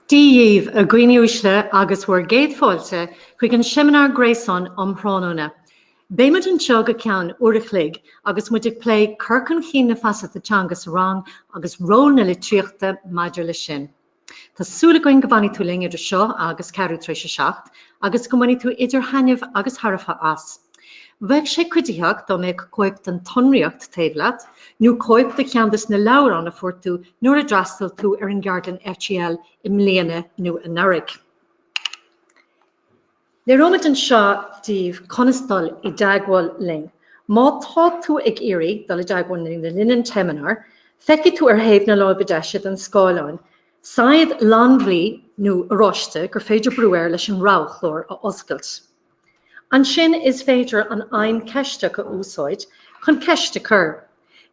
Dia dhíbh, a dhaoine uaisle, agus bhur gcéad fáilte chuig an seimineár gréasáin um thráthnóna. Beidh muid anseo go ceann uair a chloig agus muid ag plé cur chun chinn na feasachta teanga sa rang agus ról na litríochta maidir leis sin. Tá súil againn go bhfanfaidh tú linn idir seo agus ceathrú tar éis a seacht agus go mbainfidh tú idir thaitneamh agus thairbhe as. Bheadh sé cuiditheach dá mbeadh cóip den tsonraíocht taobh leat nó cóip de cheann des na leabhráin a fuair tú nuair a d'fhreastail tú ar an gceardlann FGL i mbliana nó anuraidh. Léireoimid anseo daoibh conas dul i dteagmháil linn. Má tá tú ag iarraidh dul i dteagmháil linn le linn an tseimineáir, feicfidh tú ar thaobh na láimhe deise den scáileán saighead fhlannbhuí nó oráiste gur féidir brú air leis an roghchlár a oscailt. Ansin is féidir an fheidhm Ceist a úsáid chun ceist a chur.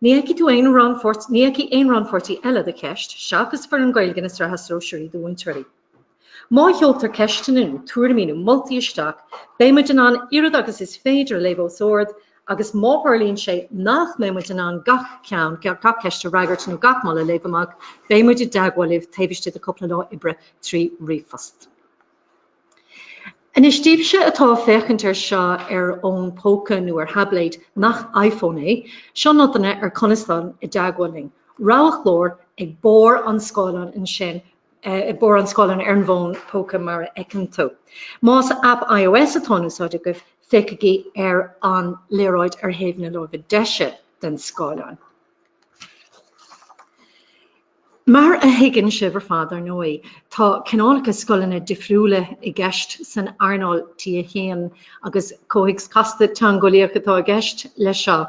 Ní fheicfidh tú aon rannpháirt, ní fheicfidh aon rannpháirtí eile do cheist, seachas foireann Gaeilge na Sraithe Sóisearaí do Mhúinteoirí. Má sheoltar ceisteanna nó tuairimí nó moltaí isteach, beidh muid in ann oiread agus is féidir a léamh os ard agus má tharlaíonn sé nach mbeidh muid in ann gach ceann, gach ceist a fhreagairt nó gach moladh a léamh amach, beidh muid i dteagmháil libh taobh istigh de chúpla lá oibre trí ríomhphost. Anois, daoibhse atá ag féachaint air seo ar fhón póca nó ar thaibléad nach iPhone é, seo nodanna ar conas dul i dteagmháil linn. Roghchlár ag barr an scáileáin ansin, ag barr an scáileáin ar an bhfón póca mar a fheiceann tú. Más aip iOS atá in úsáid agaibh, féachaigí ar an léaráid ar thaobh na láimhe deise den scáileán. Mar a thuigeann sibh ar fad, ar ndóigh, tá cineálacha scoileanna difriúla i gceist san earnáil T1 agus comhthéacs casta teangeolaíoch atá i gceist leis seo.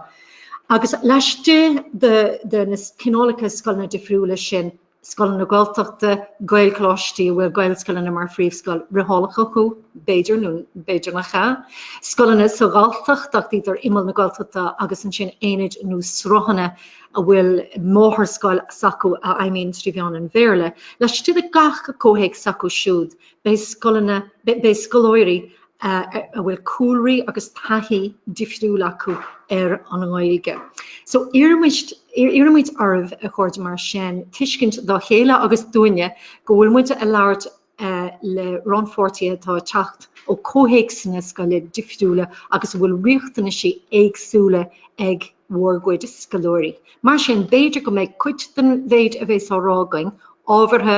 Agus laistigh de na cineálacha scoileanna difriúla sin, scoileanna Gaeltachta, Gaelcholáistí a bhfuil Gaelscoileanna mar phríomhscoil fhriothálach acu, b'fhéidir, nó b'fhéidir nach ea, scoileanna sa Ghalltacht ach iad ar imeall na Gaeltachta agus ansin aonaid nó sruthanna a bhfuil máthairscoil s'acu a fheidhmíonn trí mheán an Bhéarla. Laistigh de gach comhthéacs s'acu siúd, beidh scoileanna, beidh scoláirí a bhfuil cúlraí agus taithí difriúil acu ar an nGaeilge. So iarraimid, iarraimid oraibh a chairde mar sin, tuiscint dá chéile agus dúinne go bhfuil muid a labhairt le rannpháirtithe atá ag teacht ó comhthéacsanna scoile difriúla agus a bhfuil riachtanaisí éagsúla ag bhur gcuid scoláirí. Mar sin, b'fhéidir go mbeidh cuid den mhéid a bhéas á rá againn ábhartha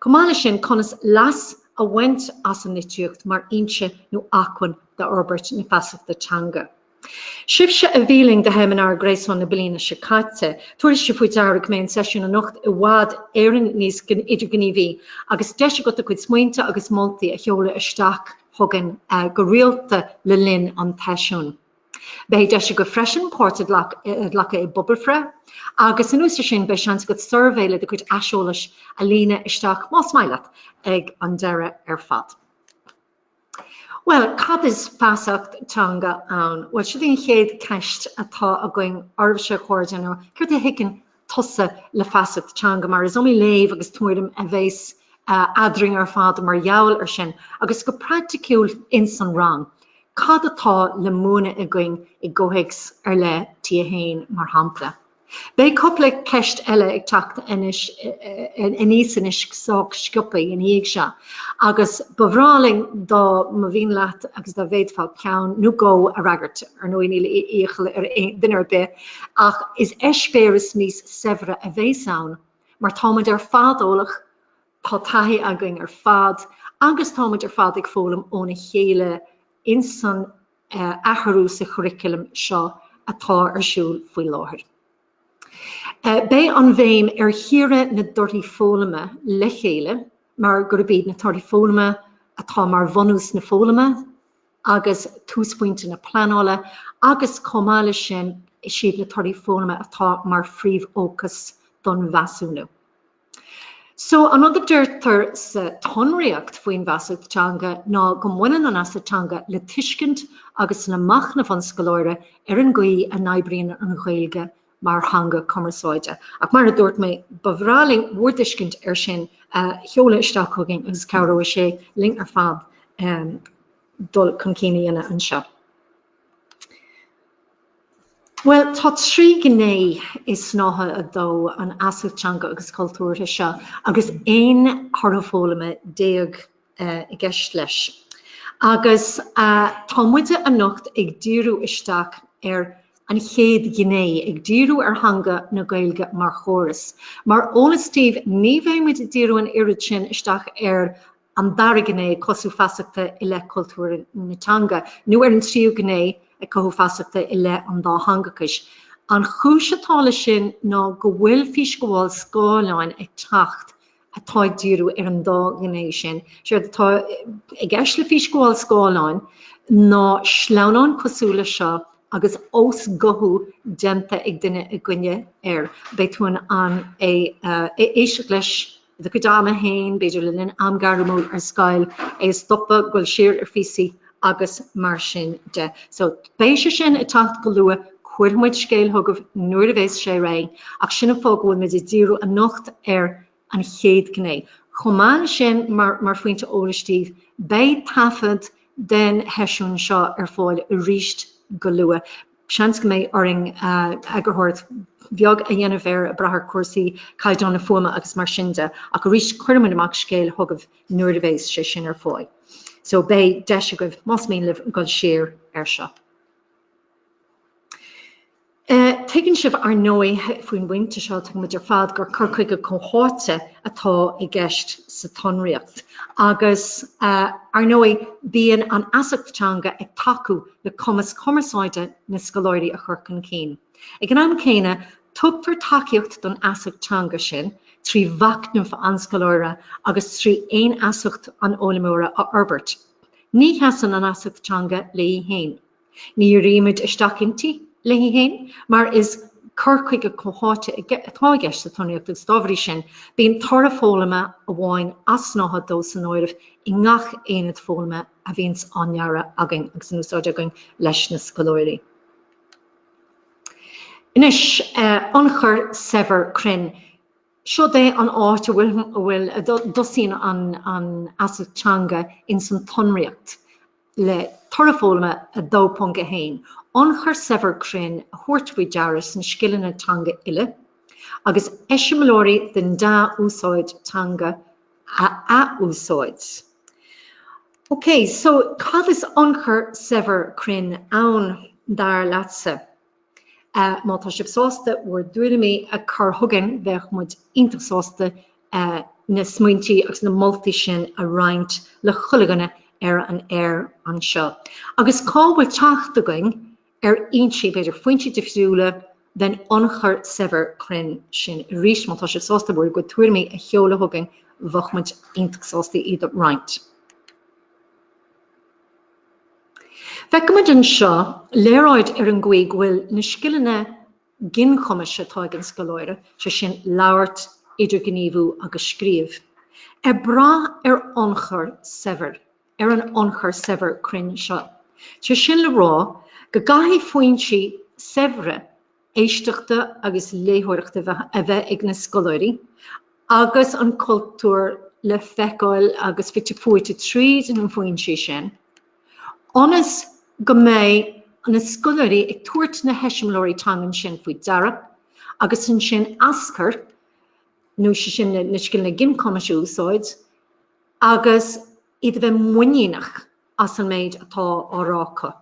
Chomh maith leis sin, conas leas a bhaint as an litríocht mar fhoinse nó acmhainn d'fhorbairt na feasachta teanga. Sibhse a bhí linn do sheimineár gréasáin na bliana seo caite, tabharfaidh sibh faoi deara go mbeidh an seisiún anocht i bhfad Éireann níos idirghníomhaí agus deis agat do chuid smaointe agus moltaí a sheoladh isteach chugainn go rialta le linn an tseisiúin. Beidh deis agat freisin páirt a ghlacadh i bpobalbhreith agus an uair sin beidh seans agat suirbhé le do chuid aiseolais a líonadh isteach más maith leat ag an deireadh ar fad. Bhuel, cad is feasacht teanga ann? Bhuel, sin í an chéad cheist atá againn oraibhse a chairde nó céard a thuigeann tusa le feasacht teanga mar is iomaí léamh agus tuairim a bheas eadrainn ar fad mar gheall ar sin agus go praiticiúil ins an rang cad atá le múineadh againn i gcomhthéacs ar leith, T1 mar shampla. Beidh cupla ceist eile ag teacht aníos anois sách sciopaidh ina dhiaidh seo agus ba bhreá linn dá mba mhian leat agus dá bhféadfá ceann nó dhó a fhreagairt. Ar ndóigh níl iachall ar duine ar bith. Ach is eispéireas níos saibhre a bheas ann mar tá muid ar fad eolach, tá taithí againn ar fad agus tá muid ar fad ag foghlaim óna chéile insan athrú sa churriculum seo atá ar siúl faoi láthair. Beidh an bhéim ar chíoradh na dtorthaí foghlama le chéile mar gurb iad na torthaí foghlama atá mar bhunús na foghlama, agus túsphointe na pleanála agus, chomh maith leis sin, is iad na torthaí foghlama atá mar phríomhfhócas don mheasúnú. So, an rud a deirtear sa tsonraíocht faoin bhfeasacht teanga ná go mbaineann an fheasacht teanga le tuiscint agus le machnamh an scoláire ar an gcaoi a n-oibríonn an Ghaeilge mar theanga cumarsáide. Ach mar a dúirt mé, ba bhreá linn bhur dtuiscint air sin a sheoladh isteach chugainn agus cabhróidh sé linn ar fad dul chun cinn a dhéanamh anseo. Bhuel, tá trí ghné i Snáithe 2 an Fheasacht Teanga agus Chultúrtha seo agus aon thoradh foghlama déag i gceist leis. Agus tá muide anocht ag díriú isteach ar an chéad ghné, ag díriú ar theanga na Gaeilge mar chóras. Mar eolas daoibh, ní bheidh muid ag díriú an oiread sin isteach ar an dara gné, cothú feasachta i leith cultúr na teanga, nó ar an tríú gné, cothú feasachta i leith an dátheangachais. An chúis atá leis sin ná go bhfuil físghabháil scáileáin ag teacht atá ag díriú ar an dá ghné sin. Séard atá i gceist le Fís Gabháil Scáileáin ná sleamhnán cosúil le seo agus osghuthú déanta ag duine eicínt air, beidh tú in ann éisteacht leis i do chuid ama féin, b'fhéidir le linn am gairmiúil ar scoil, é a stopadh, goil siar ar phíosaí agus mar sin de. So, beidh sé sin ag teacht go luath, cuirfidh muid scéal chugaibh nuair a bheas sé réidh, ach sin an fáth go bhfuil muid ag díriú anocht ar an chéad gné. Chomh maith le sin, mar phointe eolais daoibh, beidh taifead den tseisiún seo ar fáil aríst go luath. Seans go mbeidh orainn eagarthóireacht bheag a dhéanamh air ag brath ar chúrsaí caighdeán na fuaime agus mar sin de ach arís cuirfidh muid amach scéal chugaibh nuair a bhéas sé sin ar fáil. So beidh deis agaibh, más mian libh, goil siar air seo. Tuigeann sibh ar ndóigh faoin bpointe seo, tuigeann muid ar fad, gur cur chuige comhtháite atá i gceist sa tsonraíocht agus ar ndóigh bíonn an fheasacht teanga ag tacú le cumas cumarsáide na scoláirí a chur chun cinn. Ag an am céanna, tugtar tacaíocht don fheasacht teanga sin trí mhachnamh an scoláire agus trí fhéinfheasacht an fhoghlaimeora a fhorbairt. Ní sheasann an fheasacht teanga léi féin. Ní dhíríonn muid isteach inti léi féin mar is cur chuige comhtháite atá i gceist sa tsonraíocht agus dá bhrí sin, bíonn toradh foghlama amháin as snáithe dó san áireamh i ngach aonad foghlama. a bhíonns á ndearadh againn agus in úsáid againn leis na scoláirí. Anois, ionchur saibhir cruinn. Seod é an áit a bhfuil, a dtosaíonn an fheasacht teanga ins an tsonraíocht le Toradh Foghlama 2.1, ionchur saibhir cruinn a thabhairt faoi deara sna scileanna teanga uile, agus eiseamláirí den dea-úsáid teanga a athúsáid. OK, so cad is ionchur saibhir cruinn ann, dar leatsa? Má tá sibh sásta bhur dtuairimí a chur chugainn, bheadh muid iontach sásta na smaointí agus na moltaí sin a roinnt le chuile dhuine ar an aer anseo. Agus cá bhfuil teacht againn ar fhoinsí, b'fhéidir, foinsí difriúla den ionchur saibhir cruinn sin arís. Má tá sibh sásta bhur gcuid tuairimí a sheoladh chugainn, bheadh muid iontach sásta iad a roinnt. Feiceann muid anseo léaráid ar an gcaoi go bhfuil na scileanna ginchumais atá ag an scoláire, sé sin, labhairt, idirghníomhú agus scríobh, ag brath ar ionchur saibhir ar an ionchur saibhir cruinn seo. Sé sin le rá, go gcaithfidh foinsí saibhre éisteachta agus léitheoireachta a bheith ag na scoláirí agus an cultúr le feiceáil agus fite fuaite tríd na foinsí sin ionas go mbeidh na scoláirí ag tabhairt na heiseamláirí teangan sin faoi deara agus ansin aschur nó sé sin na scileanna ginchumais a úsáid agus iad a bheith muiníneach as an méid atá á rá acu.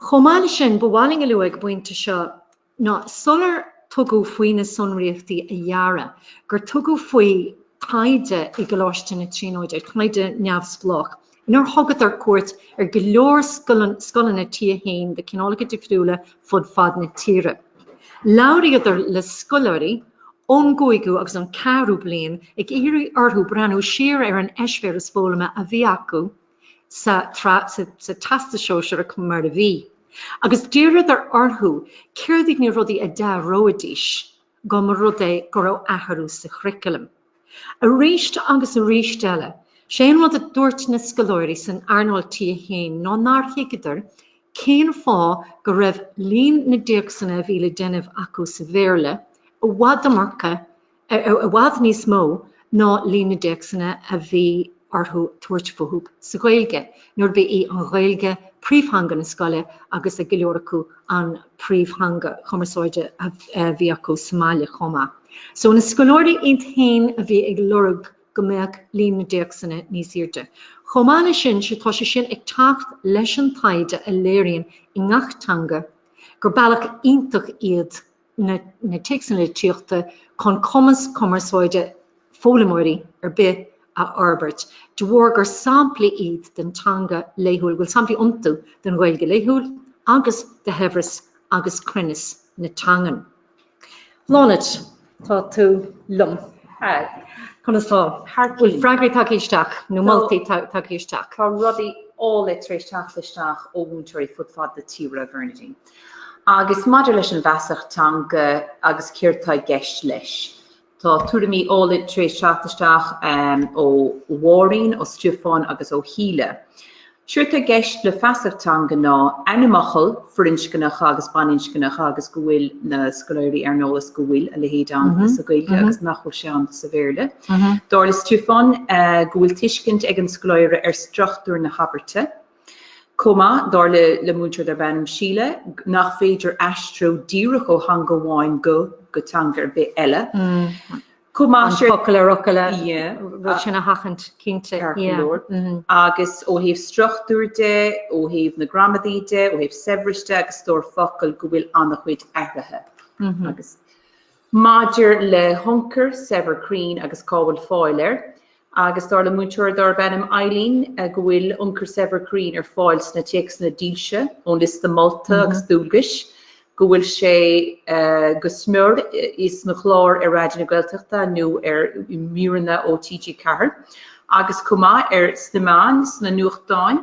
Chomh maith le sin, ba mhaith linn a lua ag an bpointe seo ná sular tugadh faoi na sonraíochtaí a dhearadh, gur tugadh faoi taighde i gColáiste na Tríonóide, taighde neamhspleách, Inar thugadar cuairt ar go leor scoileanna T1 de chineálacha difriúla fud fad na tíre, labhraíodar le scoláirí ón gcúigiú agus an ceathrú bliain ag iarraidh orthu breathnú siar ar an eispéireas foghlama a bhí acu sa Teastas Sóisearach mar a bhí agus d'iarradar orthu céard iad na rudaí a d'athróidís dá mba rud é go raibh athrú sa churriculum. Aríst agus aríst eile, 'sé an rud a dúirt na scoláirí san earnáil T1 ná nár thuigeadar cén fáth go raibh líon na dtéacsanna a bhí le déanamh acu sa Bhéarla i bhfad i mBéarla, i bhfad níos mó ná líon na dtéacsanna a bhí orthu tabhairt fúthu sa Ghaeilge. nuair ba í an Ghaeilge príomhtheanga na scoile agus ag go leor acu an príomhtheanga chumarsáide a bhí acu sa mbaile chomh maith. So na scoláirí iad féin a bhí ag lorg go mbeadh líon na dtéacsanna níos airde. Chomh maith leis sin tá sé sin ag teacht leis an taighde a léiríonn i ngach teanga gur bealach iontach iad na téacsanna litríochta chun cumas cumarsáide foghlaimeoirí ar bith a fhorbairt de bharr gur samplaí iad den teanga laethúil, bhfuil samplaí iontu den Ghaeilge laethúil agus de shaibhreas agus cruinneas na teangan. Bláthnaid, tá tú liom. Haigh, conas tá? Bhfuil freagraí tagtha isteach nó moltaí tagtha isteach? Tá rudaí áille tar éis teacht isteach ó mhúinteoirí fud fad na tíre, Bernadine. Agus maidir leis an bhfeasacht teanga agus céard tá i gceist leis, tá tuairimí áille tar éis teacht isteach ó Mháirín, ó Stiofán agus ó Shíle. Séard tá i gceist le feasacht teanga ná ainmfhocail firinscneacha agus baininscneacha agus go bhfuil na scoláirí ar an eolas go bhfuil a leithéid ann mm-hmm. sa Ghaeilge mm-hmm. agus nach bhfuil sé ann sa Bhéarla. Mm-hmm. Dar le Stiofán eh, go bhfuil tuiscint ag an scoláire ar struchtúr na habairte, chomh maith, dar le le múinteoir darb ainm Síle, nach féidir aistriú díreach ó theanga amháin go go teanga ar bith eile. Chomh maith, sé focal ar fhocal an rud sin a sheachaint cinnte leor. Agus ó thaobh struchtúir de, ó thaobh na gramadaí de, ó thaobh saibhris de agus stór focal go bhfuil an-chuid athruithe agus. Maidir le hionchur saibhir cruinn agus cá bhfuil fáil air, agus dar le múinteoir darb ainm Eileen go bhfuil ionchur saibhir cruinn ar fáil sna téacsanna dílse ón liosta molta agus dualgais, go bhfuil sé go mór sna cláir ar Raidió na Gaeltachta nó ar mhíreanna ó TG4, agus chomh maith ar sna meáin, sna nuachtáin.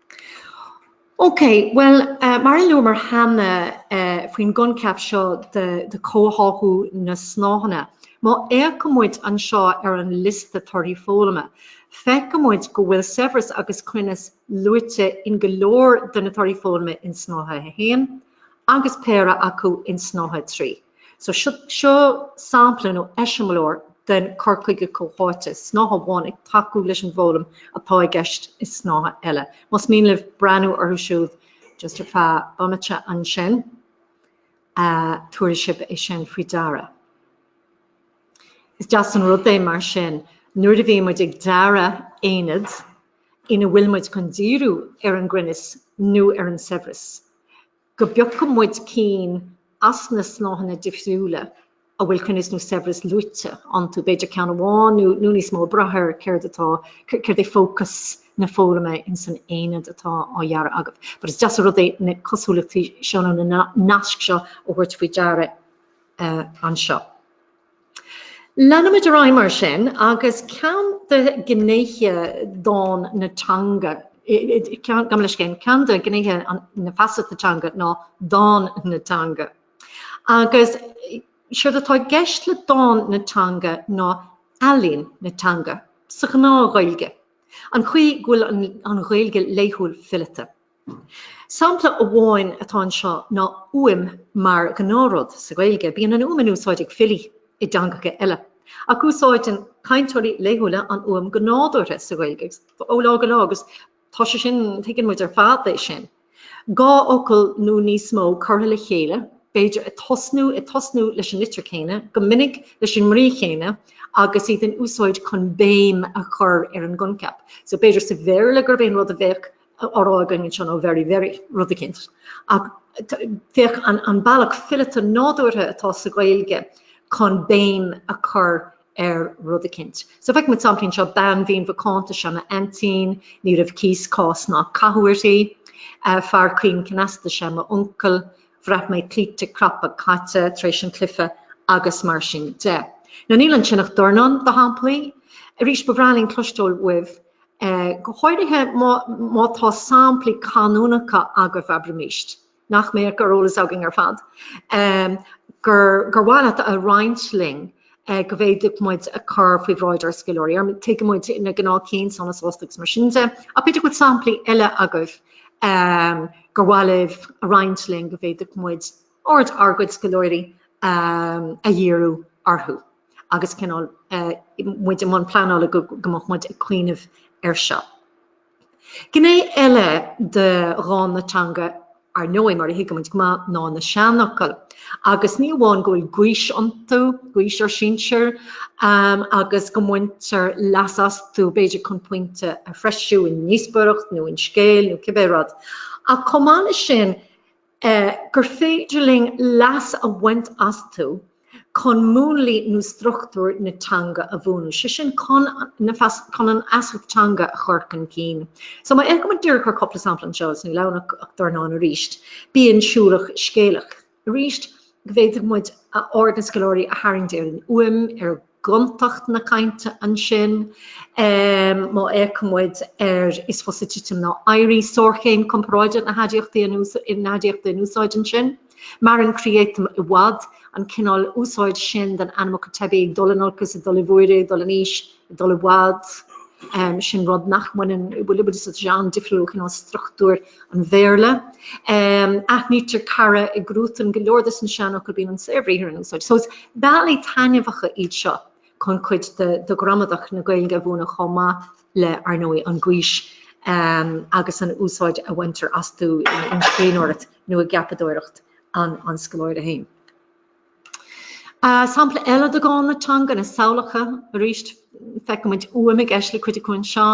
Ok, bhuel mar a luamar cheana faoin gcoincheap seo de chomhtháthú na snáitheanna, má fhéachaimid anseo ar an liosta torthaí foghlama, feicfimid go bhfuil saibhreas agus cruinneas luaite in go leor de na torthaí foghlama in Snáithe 1, agus péire acu in Snáithe 3. So seo sampla nó eiseamláir den cur chuige comhtháite, snáithe amháin ag tacú leis an bhfoghlaim atá i gceist i snáithe eile. Más mian libh breathnú orthu siúd just ar feadh bomaite ansin, tabharfaidh sibh é sin faoi deara. Is deas an rud é mar sin nuair a bhíonn muid ag dearadh aonad ina bhfuil muid chun díriú ar an gcruinneas nó ar an saibhreas go bpiocfaidh muid cinn as na snáitheanna difriúla a bhfuil cruinneas nó saibhreas luaite iontu, b'fhéidir ceann amháin nó níos mó ag brath ar céard atá, céard é fócas na foghlama in san aonad atá á dhearadh agaibh. But is deas an rud é na cosúlachtaí seo nó na naisc seo a thabhairt faoi deara anseo. Leanfaimid ar aghaidh mar sin agus ceann de ghnéithe dán na teanga, gabh mo leithscéal, ceann de ghnéithe na feasachta teanga ná dán na teanga. Agus séard atá i gceist le dán na teanga ná ealaín na teanga, sa ghnáth-Ghaeilge, an chaoi go bhfuil an Ghaeilge laethúil fileata. Sampla amháin atá anseo ná uaim mar ghnáthrud sa Ghaeilge. Bíonn an uaim in úsáid ag filí i dteangacha eile, ach úsáideann cainteoirí laethúla an uaim go nádúrtha sa Ghaeilge ó lá go lá agus tá sé sin, tuigeann muid ar fad é sin, dhá fhocal nó níos mó curtha le chéile, b'fhéidir ag tosnú, ag tosnú leis an litir chéanna, go minic leis an mbrí chéanna agus iad in úsáid chun béim a chur ar an gcoincheap. So b'fhéidir sa Bhéarla gurb é an rud a bheadh. rá againn an-seo nó very, very rud eicínt. Ach féach an bealach fileata nádúrtha atá sa Ghaeilge chun béim a chur ar rud eicínt. So feicfidh muid samplaí anseo bean mhín mhacánta sea m'aintín, ní raibh cíos, cás ná cathú uirthi. Uh, fear caoin cneasta sea m'uncail, bhraith mé cloíte craptha caite tar éis an chluife agus mar sin de. Níl ansin ach dornán de shamplaí. Arís ba bhreá linn cloisteáil uaibh. Go háirithe má tá samplaí canúnacha agaibh, abraimís, nach mbeadh ar eolas againn ar fad, gur mhaith leat a roinnt linn go bhféadfadh muid a chur faoi bhráid ár scoláirí. Tuigeann muid na gnáthchinn, sona sásta agus mar sin de, ach b'fhéidir go bhfuil samplaí eile agaibh gur mhaith libh a roinnt linn go bhféadfadh muid aird ár gcuid scoláirí a dhíriú orthu agus cineál muid i mbun pleanála go mbeadh muid ag cuimhneamh air seo. Gné eile de dhán na teanga, ar ndóigh, mar a thuigimid go maith, ná na seanfhocail. Agus ní amháin go bhfuil gaois iontu, gaois ár sinsir, agus go mbaintear leas astu b'fhéidir chun pointe a threisiú i ndíospóireacht nó in scéal nó cibé rud, ach chomh maith leis sin, gur féidir linn leas a bhaint astu chun múnlaí nó struchtúir na teanga a bhuanú, sé sin chun an fheasacht teanga a chur chun cinn. So má fhéachaimid díreach ar chúpla sampla anseo, is níl ann ach dornán arís, bíonn siúlach scéalach. Arís, go bhféadfadh muid aird na scoláirí a tharraingt ar an uaim, ar gontacht na cainte ansin. Má fhéachann muid ar, is fusa titim ná éirí, sárchéim comparáide na haidiachta in úsáid ansin, maireann creatán i bhfad, an cineál úsáid sin den ainmfhocal teibí, ag dul in olcas, ag dul i bhfuaire, ag dul in aois, ag dul i bhfad. sin rud nach mbaineann, bhuel, is an-difriúil ó chineál struchtúr an Bhéarla. Aithnítear cara i gcruatan go leor de sna seanfhocail bíonn an saorbhriathar in úsáid. So is bealaí taitneamhacha iad seo chun cuid de ghramadach na Gaeilge a bhuanú chomh maith le, ar ndóigh, an gaois agus an úsáid a bhaintear astu in scríbhneoireacht nó i gceapadóireacht an an scoláire féin. Sampla eile de dhán na teanga, na samhlacha, arís feicimid uaim i gceist le cuid acu anseo.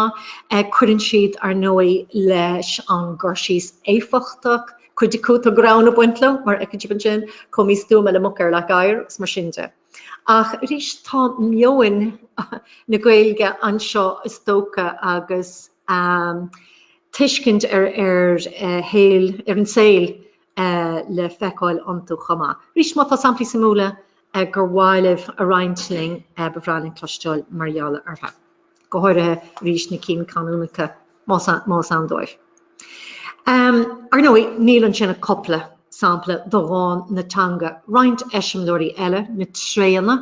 Cuireann siad, ar ndóigh, leis an gcur síos éifeachtach, cuid acu tá greann ag baint leo, mar a fheiceann sibh ansin, chomh místuama le muc ar leac oighir agus mar sin de. Ach arís tá meon na Gaeilge anseo is dócha agus tuiscint ar an saol le feiceáil iontu chomh maith. Arís, má tá samplaí suimiúla gur mhaith libh a roinnt linn, ba bhreá linn cloisteáil mar gheall orthu. Go háirithe, arís, na cinn canúnacha, más ann dóibh. Ar ndóigh, níl ansin ach cupla sampla de dhán na teanga, roinnt eiseamláirí eile, na tréanna,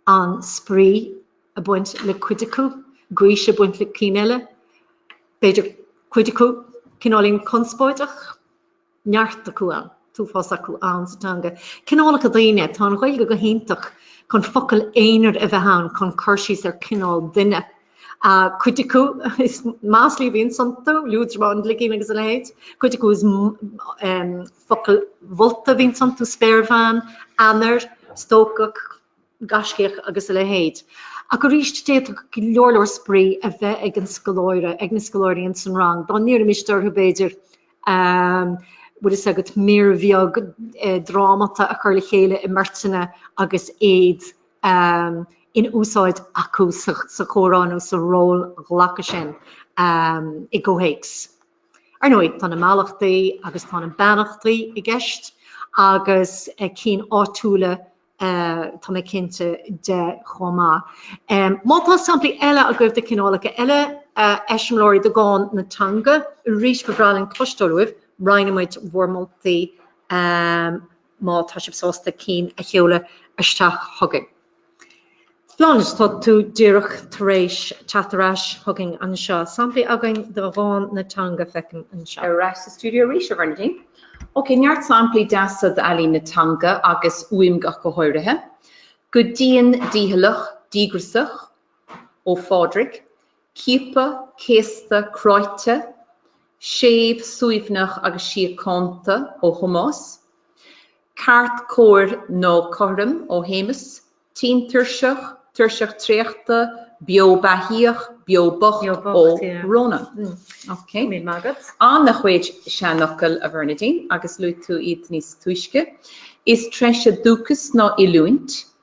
an-spraoi ag baint le cuid acu, gaois ag baint le cinn eile, b'fhéidir cuid acu cineáilín conspóideach, neart acu, an t-uafás acu ann sa teanga. Cineálacha daoine, tá an Ghaeilge go hiontach chun focail aonair a bheith ann chun cur síos ar cineál duine. Cuid acu is maslaí a bhíonns iontu, liúdramán, gligín agus a leithéid. Cuid acu is. Focail mholta a bhíonns iontu, spéirbhean, ainnir, stócach, gaiscíoch agus a leithéid. Ach arís d'fhéadfadh go leor leor spraoi a bheith ag an scoláire, ag na scoláirí ins an rang dá n-iarraimis orthu b'fhéidir ehm, bhfuil fhios agat, mír bheag eh, drámata a chur le chéile i mbeirteanna agus iad ehm, in úsáid acu sa, sa chomhrá nó sa rólghlacadh sin ehm, i gcomhthéacs. Ar ndóigh, tá na mallachtaí agus tá na beannachtaí i gceist agus cinn áitiúla tá mé cinnte de chomh maith. Má tá samplaí eile agaibh de chineálacha eile eiseamláirí de dhán na teanga, arís ba bhreá linn cloisteáil uaibh, roinnfidh muid bhur moltaí. má tá sibh sásta cinn a sheoladh isteach chugainn. Bláthnaid, Tá tú díreach tar éis teacht ar ais chugainn anseo. Samplaí againn de dhán na teanga, feicim anseo. Ar ais sa stiúideo arís, a Bhernadine. Ok, neart samplaí deasa d'ealaín na teanga, agus uaim ach go háirithe. Go dian dícheallach díograsach, ó Phádraig. ciaptha, céasta, cráite, séimh, suaimhneach agus síochánta ó Thomás, ceart, cóir nó cothrom ó Shéamus, tinn, tuirseach, tuirseach traochta, beo beathaíoch, beo bocht ó Rónán. Ana chuid seanfhocail a Bhernadine agus luaigh tú iad níos túisce. Is treise dúchas ná oiliúint.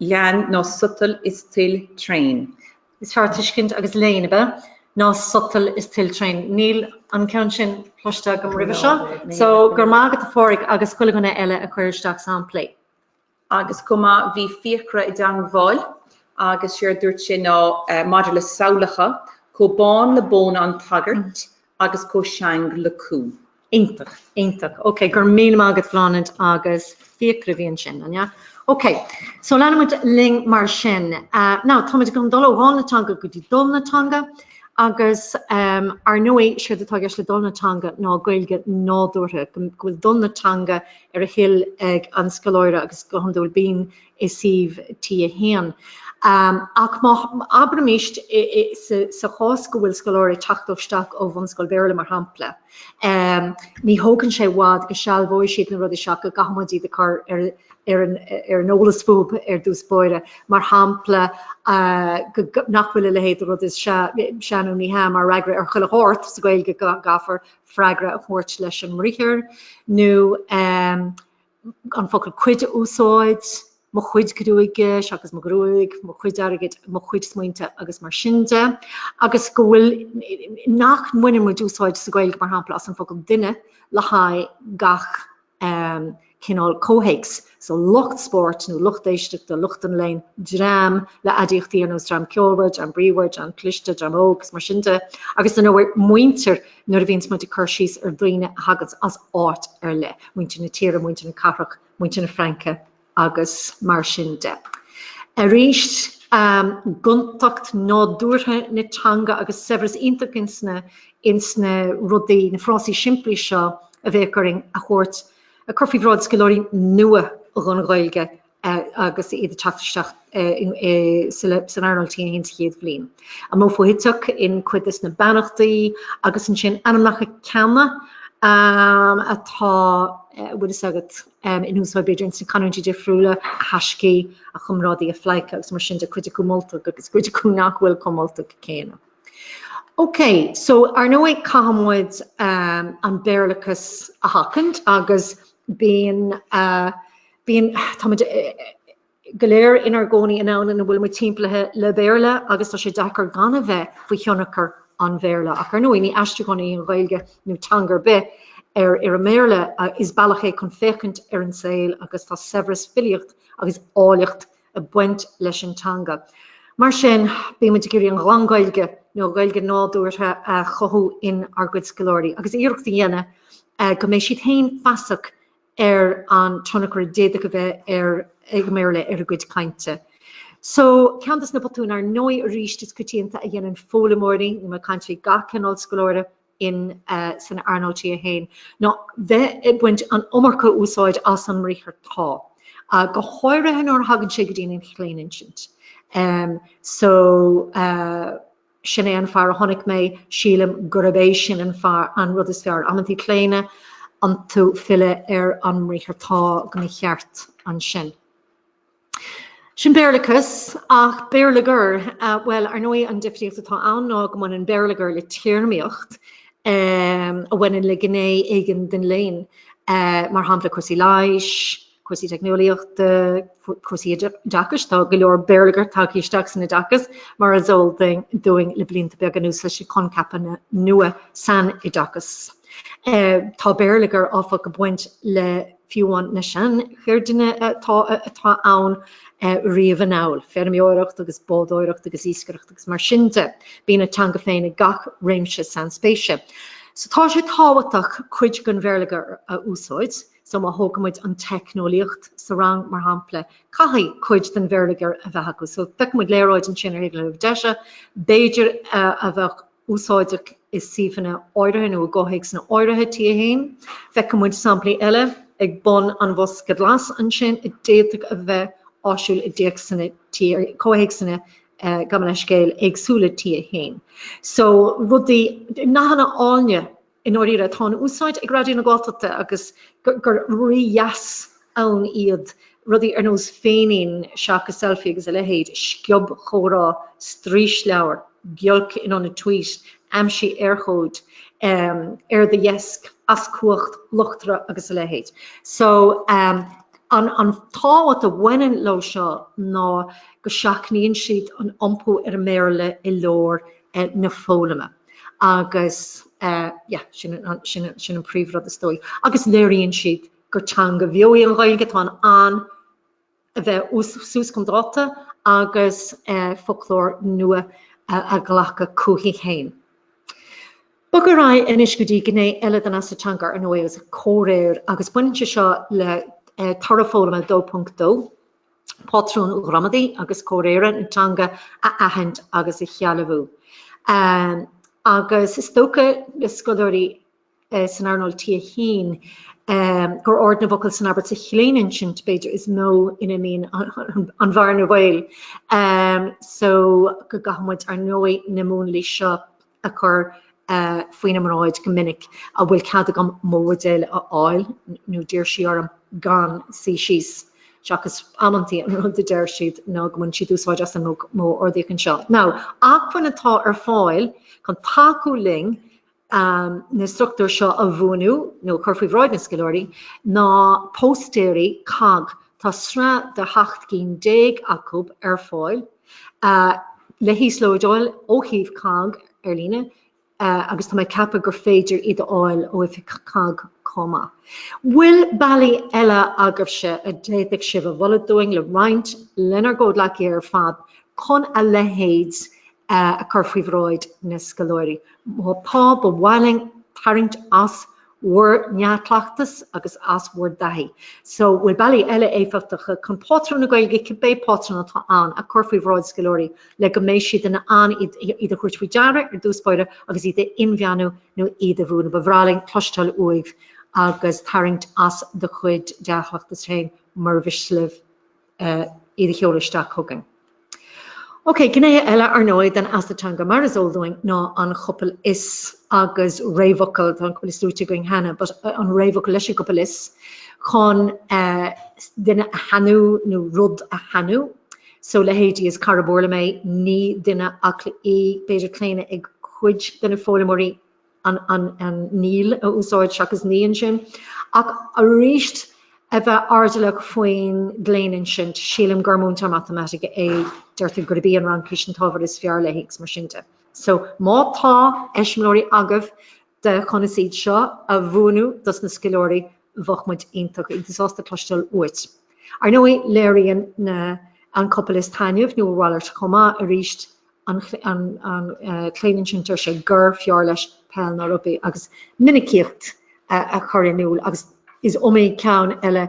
léann ná sotal is toil tréan. Is fearr tuiscint agus léann ab ea ná sotal is toil tréan. Níl an ceann sin cloiste agam roimhe seo so go raibh maith agat a Phádraig agus chuile dhuine eile a chuir isteach samplaí. Agus chomh maith bhí Fiachra i dteangmháil agus séard a dúirt sé ná maidir le samhlacha, chomh bán le bóna an tsagairt agus chomh seang le cú. Iontach, iontach. Ok, go raibh míle maith agat Bláthnaid agus Fiachra a bhí ansin, an ea? Ok, so leanfaidh muid linn mar sin. Now, táimid ag dul ó fháil na teanga go dtí dul na teanga agus ar ndóigh, séard atá i gceist le dul na teanga ná Gaeilge nádúrtha, go bhfuil dul na teanga ar a thoil ag an scoláire agus go hiondúil bíonn i suíomh T1. Ach abraimis sa chás go bhfuil scoláire ag teacht isteach ó bhunscoil Béarla mar shampla, ní thógann sé i bhfad go sealbhóidh siad na rudaí seo ach go gcaithfimid iad a chur ar an eolas fúthu ar dtús báire, mar shampla nach bhfuil a leithéid de rud is 'sea' nó 'ní hea' mar fhreagra ar chuile shórt sa Ghaeilge go gcaithfear freagra a thabhairt leis an mbriathar nó. an focal cuid a úsáid, mo chuid gruaige, seachas mo ghruaig, mo chuid airgid, mo chuid smaointe agus mar sin de. Agus go bhfuil, nach mbaineann muid úsáid sa Ghaeilge, mar shampla, as an focal duine le haghaidh gach cineál comhthéacs. So lucht spóirt nó lucht éisteachta, lucht an léinn, dream le haidiachtaí ar nós dream ceolmhar, dream bríomhar, dream cliste, dream óg is mar sin de. Agus, ar ndóigh, muintir. Nuair a bhíonns muid ag cur síos ar dhaoine a thaganns as áit ar leith, muintir na tíre, muintir na cathrach, muintir na Fraince agus mar sin de. Arís gontacht nádúrtha na teanga agus saibhreas iontach ins na rudaí, ins na frásaí simplí seo a bheadh orainn a thabhairt, a chur faoi bhráid scoláirí nua dhon Ghaeilge agus iad ag teacht isteach san earnáil T1 sa chéad bhliain. An modh foshuiteach in cuid des na beannachtaí agus ansin ainmneacha ceana atá, tá a fhios agat, in úsáid b'fhéidir ins na canúintí difriúla a thaisce, a chomrádaí a phleidhce agus mar sin de cuid acu moltach agus cuid acu nach bhfuil chomh moltach céanna. Ok, so ar ndóigh caithfidh muid an Béarlachas a sheachaint agus bíonn Bíonn, tá muid go léir inár gcónaí i ndomhan ina bhfuil muid timpeallaithe le Béarla agus tá sé deacair gan a bheith faoi thionchar an Bhéarla. Ach ar ndóigh, ní aistriúchán í an Ghaeilge, nó teanga ar bith, ar an mBéarla, is bealach é chun féachaint ar an saol agus tá saibhreas filíocht agus áilleacht ag baint leis an teanga. Mar sin, bíonn muid ag iarraidh an ghlan-Ghaeilge, nó Gaeilge nádúrtha a chothú inár gcuid scoláirí agus iarracht a dhéanamh go mbeidh siad féin feasach ar an tionchar a d'fhéadfadh a bheith ag an mBéarla ar a gcuid cainte. So, ceann des na botúin, ar ndóigh, arís is coitianta a dhéanann foghlaimeoirí, nó na cainteoirí gach cineál scoláire in san earnáil T1, ná bheith ag baint an iomarca úsáid as an mbriathar tá, go háirithe nuair a thagann sé go dtí an chlaoninsint. So. Sin é an fear a tháinig mé, sílim gurb é sin an fear, an rud is fearr. Amantaí claonadh iontu filleadh ar an mbriathar tá go mba cheart ansin. Sin Béarlachas, ach béarlagair, bhuel, ar ndóigh an difríocht atá ann ná go mbaineann béarlagair le téarmaíocht a bhaineann le gné éigin den léann, mar shampla cúrsaí leighis, cúrsaí teicneolaíochta, cúrsaí oideachais, tá go leor béarlagair tagtha isteach san oideachas mar is eol dúinn le blianta beaga anuas leis na coincheapanna nua san oideachas. Tá béarlagair áfach ag baint le fiúháin na seancheirdeanna atá ann riamh anall, feirmeoireacht agus bádóireacht agus iascaireacht agus mar sin de. Bíonn a teanga féin ag gach réimse sainspéise. So tá sé tábhachtach cuid den bhéarlagair a úsáid. so má thógaimid an teicneolaíocht sa rang mar shampla, caithfidh cuid den bhéarlagair a bheith acu. So feicfidh muid léaráid ansin ar thaobh na láimhe deise, b'fhéidir a bheadh úsáideach i suíomhanna áirithe nó i gcomhthéacsanna áirithe, T1. Feicfidh muid samplaí eile ag bun an bhosca ghlais ansin a d'fhéadfadh a bheith áisiúil i dtéacsanna T1, comhthéacsanna, gabh mo leithscéal, éagsúla T1. So rudaí, nathanna áilne I ndáiríre, atá in úsáid ag Raidió na Gaeltachta agus gur rídheas ann iad rudaí ar nós féinín seachas selfie agus a leithéid, sciobchomhrá, straoisleabhar, giolc in ionad tweet, aimsigh urchóid, ar do dheasc, as cumhacht, luchtaire agus a leithéid. So, an tábhacht a bhaineann leo seo ná go seachnaíonn siad an iompú ar an mBéarla i lár na foghlama agus yeah sin an príomhrud is dóigh. Agus léiríonn siad gur teanga bheo í an Ghaeilge, atá in ann a bheith suas chun dáta agus foclóir nua a ghlacadh chuithi féin. Bogadh ar aghaidh anois go dtí gné eile den fheasacht teanga ná sin comhréir agus baineann sé seo le toradh foghlama 2.2. patrúin ghramadaí agus comhréire na teanga a aithint agus a shealbhú. Agus is dócha le scoláirí san earnáil T1 gur ord na bhfocal san abairt sa chlaoninsint, b'fhéidir, is mó ina mbíonn an bhearna bhaoil. So go gcaithfidh muid, ar ndóigh, na múnlaí seo a chur faoina mbráid go minic, An bhfuil cead agam mo bhuidéal a fháil? nó d'iarr sí orm gan suí síos. Seachas amantaí an rud a deir siad ná go mbaineann siad úsáid as an modh ordaíoch anseo. Now acmhainn atá ar fáil chun tacú linn na struchtúir seo a bhuanú nó a chur faoi bhráid na scoláirí ná póstaeir COGG. Tá sraith de sheacht gcinn déag acu ar fáil. le híoslódáil ó shuíomh COGG ar líne agus tá mé ag ceapadh gur féidir iad a fháil ó oifig COGG chomh maith. Bhfuil bealaí eile agaibhse a d'fhéadfadh sibh a mholadh dúinn le roinnt lenár gcomhghleacaithe ar fad chun a leithéid a chur faoi bhráid na scoláirí? Má tá, ba mhaith linn tarraingt as bhur ndea-chleachtas agus as bhur dtaithí. So, bhfuil bealaí eile éifeachtacha chun pátrún na Gaeilge, cibé pátrún atá ann, a chur faoi bhráid scoláirí le go mbeidh siad in ann iad a thabhairt faoi deara ar dtús báire agus iad a inmheánú nó iad a bhuanú? Ba bhreá linn cloisteáil uaibh agus tarraingt as do chuid dea-chleachtas féin, mura mhiste libh. iad a sheoladh isteach chugainn. Ok, gnéithe eile, ar ndóigh, den fheasacht teanga, mar is eol dúinn, ná an chopail 'is' agus réamhfhocal, tá an chopail 'is' luaite againn cheana, but an réamhfhocal... leis an gcopail 'is' chun duine a shainiú nó rud a shainiú. So, leithéidí, is scoláire Béarla mé, ní duine acla í, b'fhéidir claonadh ag cuid de na foghlaimeoirí, an Níl a úsáid seachas Ní ansin. Ach arís, a bheith airdeallach faoin gclaonadh ansin. Sílim gur múinteoir matamaitice é. Deirtear gurb í an Fhraincis an t-ábhar is fearr léi agus mar sin de. So, má tá eiseamláirí agaibh de conas iad seo a bhuanú dos na scoláirí, bheadh muid iontach iontach sásta cloisteáil uait. Ar ndóigh, léiríonn na an chopail is taitneamh, nó a mhalairt chomh maith, arís, an Claoninsint ar sé gur fearr leis peil ná rugbaí agus minicíocht a chur in iúl agus is iomaí ceann eile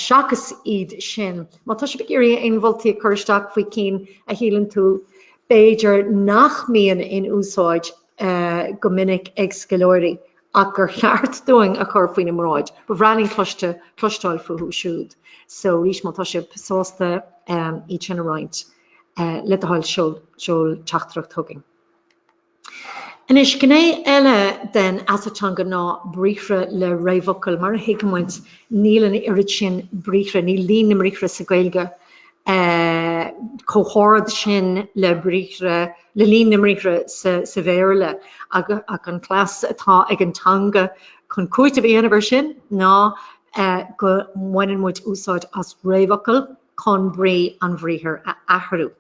seachas iad sin. Má tá sibh ag iarraidh aon mholtaí a chur isteach faoi cinn a shíleann tú b'fhéidir nach mbíonn in úsáid go minic ag scoláirí ach gur cheart dúinn a chur faoina mbráid, ba bhreá linn cloiste, cloisteáil fúthu siúd. So arís má tá sibh sásta iad sin a roinnt. le do thoil seol teachtaireacht chugainn. Anois, gné eile den fheasacht teanga ná briathra le réamhfhocail. Mar a thuigeann muid, níl an oiread sin briathra, níl líon na mbriathra sa Ghaeilge chomh hard sin le briathra, le líon na mbriathra sa Bhéarla. Ach an cleas atá ag an teanga chun cúiteamh a dhéanamh air sin ná go mbaineann muid úsáid as réamhfhocail. chun brí an bhriathair a athrú.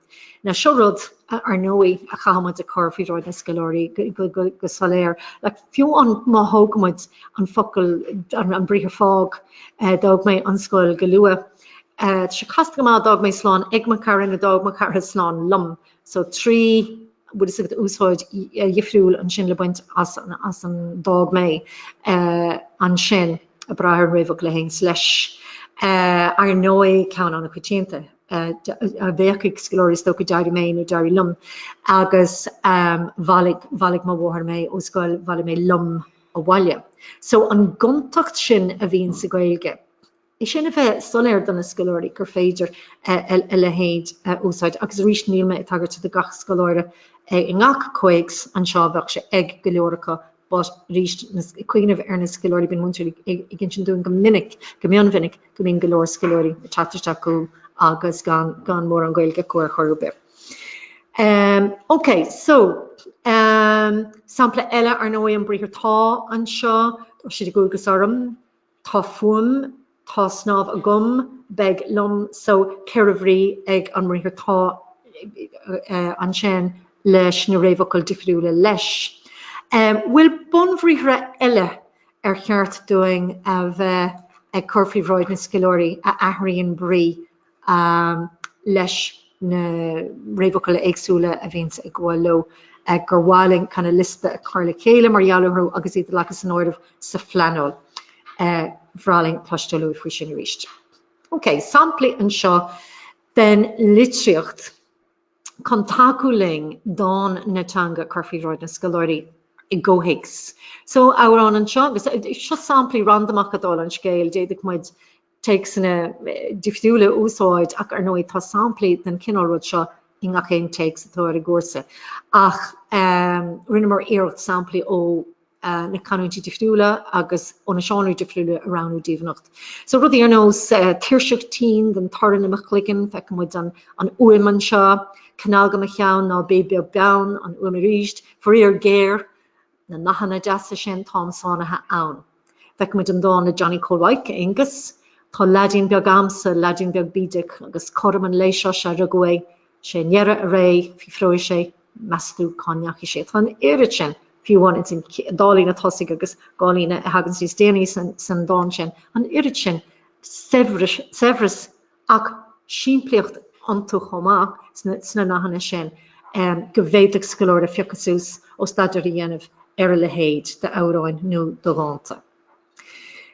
Now seo rud, ar ndóigh, a chaithfimid a chur faoi bhráid na scoláirí go soiléir, like fiú má thógaimid an focal, an briathar fág, d'fhág mé an scoil go luath. Tá sé casta go maith d'fhág mé slán ag mo chara nó d'fhág mo chara slán liom. so trí bhfuil fhios agat úsáid dhifriúil ansin le baint as as an d'fhág mé ansin ag brath ar an réamhfhocal a théanns leis ar ndóigh ceann an-choitianta a bheadh ag scoláirí is dócha d'éirigh mé nó d'éirigh liom agus bhailigh bhailigh mo mháthair mé ó scoil bhailigh mé liom abhaile so an gontacht sin a bhíonn sa Gaeilge í sin a bheith soiléir do na scoláirí gur féidir a leithéid a úsáid agus arís níl mé ag tagairt do gach scoláire i ngach comhthéacs anseo, bheadh sé ag go leor acu but arís ag cuimhneamh ar na scoláirí bíonn múinteoirí ag insint dúinn go minic, go mion mhinic, go mbíonn go leor scoláirí ag teacht isteach chugainn agus gan gan mórán Gaeilge acu ar chor ar bith. Um, ok, so um, sampla eile ar ndóigh an briathar tá anseo, so tá ocras orm, Tá fúm, tá snámh agam, beidh liom, so, ceithre bhrí ag an mbriathar tá, ansin leis na réamhfhocail difriúla leis. An bhfuil bunbhriathra eile ar cheart dúinn a bheith ag cur faoi bhráid na scoláirí a athraíonn brí leis na réamhfhocail éagsúla a bhíonns ag gabháil leo, gur mhaith linn kinda liosta a chur le chéile mar gheall orthu agus iad a ghlacadh san áireamh sa phleanáil. Bhreá linn cloisteáil uaibh faoi sin arís. OK, samplaí anseo den litríocht chun tacú linn dán na teanga a chur faoi bhráid na scoláirí i gcomhthéacs. So, amhrán anseo agus seo samplaí randamacha dála an scéil, d'fhéadfadh muid téacsanna difriúla a úsáid ach ar ndóigh tá samplaí den chineál rud seo i ngach aon téacs atá ar an gcúrsa ach rinneamar iarracht samplaí ó na canúintí difriúla agus ó na seánraí difriúla a roghnú daoibh anocht. So rudaí ar nós tuirseach tinn den torann i mo chloigeann, feiceann muid an an uaim anseo, cnag i mo cheann, ná bí beag beann, an uaim arís, faraor géar, Na nathanna deasa sin, táim sáinnithe ann. Feiceann muid an dán le Johnny Chóil Mhaidhc, Aonghus. Tá leaidín beag a'msa, leaidín beag bídeach, agus cothrom an lae seo sea rugadh é. Sé i ndeireadh a ré, fiafróidh sé, meas tú cá ndeachaigh sé? Tá an oiread sin, fiú amháin ins an dá líne tosaigh agus dhá líne a thaganns níos déanaí san dán sin, an oiread sin saibhreas, ach simplíocht iontu chomh maith sna nathanna sin go bhféadfadh scoláire a phiocadh suas ó staidéar a dhéanamh ar a leithéid d'amhráin nó de dhánta.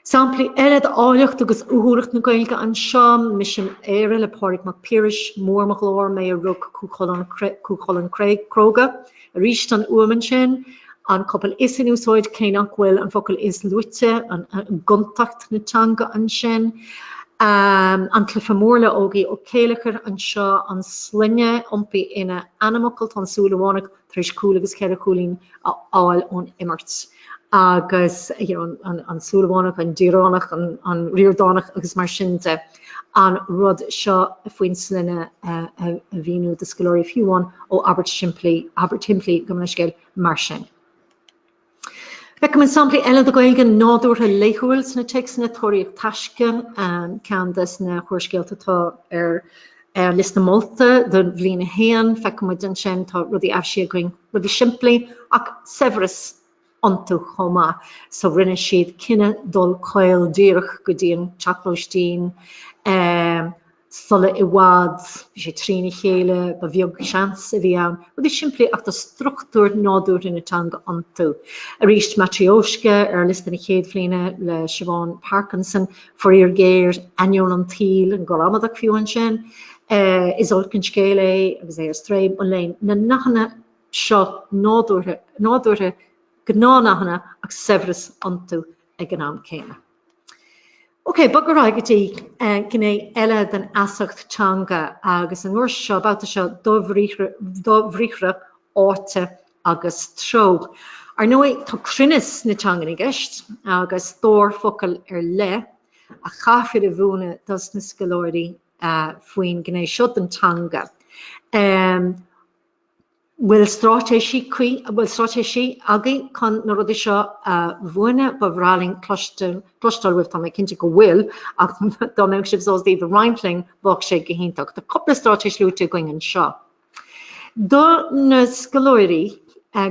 Samplaí eile d'áilleacht agus uathúlacht na Gaeilge anseo, Mise in Éire le Pádraig Mac Piarais, Mór mo ghlór mé a rug Cú Chulainn cróga, Arís an fhuaim ansin, an chopail is in úsáid cé nach bhfuil an focal is luaite, gontacht na teanga ansin. An cluife mór le Ógie Ó Céilleachair anseo, an sloinne iompaithe ina ainmfhocal, tá an Súilleabhánach tar éis cúl agus ceithre chúilín a fháil ón imirt. Agus, you know, an Súilleabhánach, an Díreánach, an Ríordánach agus mar sin de. an rud seo faoin sloinne a mhíniú do scoláirí fiú amháin ó abairt shimplí, abairt shimplí i gcomhthéacs scéil mar sin. Feicimid samplaí eile de Ghaeilge nádúrtha laethúil sna téacsanna, Tóraíocht taisce, ceann de na húrscéalta atá ar an liosta molta do bhliain a haon, feicimid ansin tá rudaí aimsithe againn, rudaí simplí ach saibhreas iontu chomh maith. So rinne siad cinneadh dul caol díreach go dtí an teach lóistín sula i bhfad. Bhí sé trína chéile, ba bheag seans a bhí ann. Rudaí simplí ach tá struchtúir nádúrtha na teanga iontu. Arís, Matryoshka ar liosta na chéad bhliana le Siobhán Parkinson, faraor géar, ainneoin an tsaoil, an ghramadach fiú ansin. Is olc an scéal é agus é ar strae, mo léan. Na nathanna seo nádúrtha, gnáthnathanna ach saibhreas iontu ag an am céanna. Ok, bogadh ar aghaidh go dtí gné eile den fheasacht teanga agus an uair seo, babhta seo, dobhriathra, áite agus treo. Ar ndóigh, tá cruinneas na teangan i gceist agus stór focal ar leith a chaithfear a mhúineadh dos na scoláirí faoin gné seo den teanga. bhfuil stráitéisí cuí, bhfuil stráitéisí agaibh chun na rudaí seo a mhúineadh? Ba bhreá linn cloisteáil, cloisteáil uaibh, tá mé cinnte go bhfuil, ach dá mbeadh sibh sásta iad a roinnt linn, bheadh sé go hiontach. Tá cúpla stráitéis luaite againn anseo. Do na scoláirí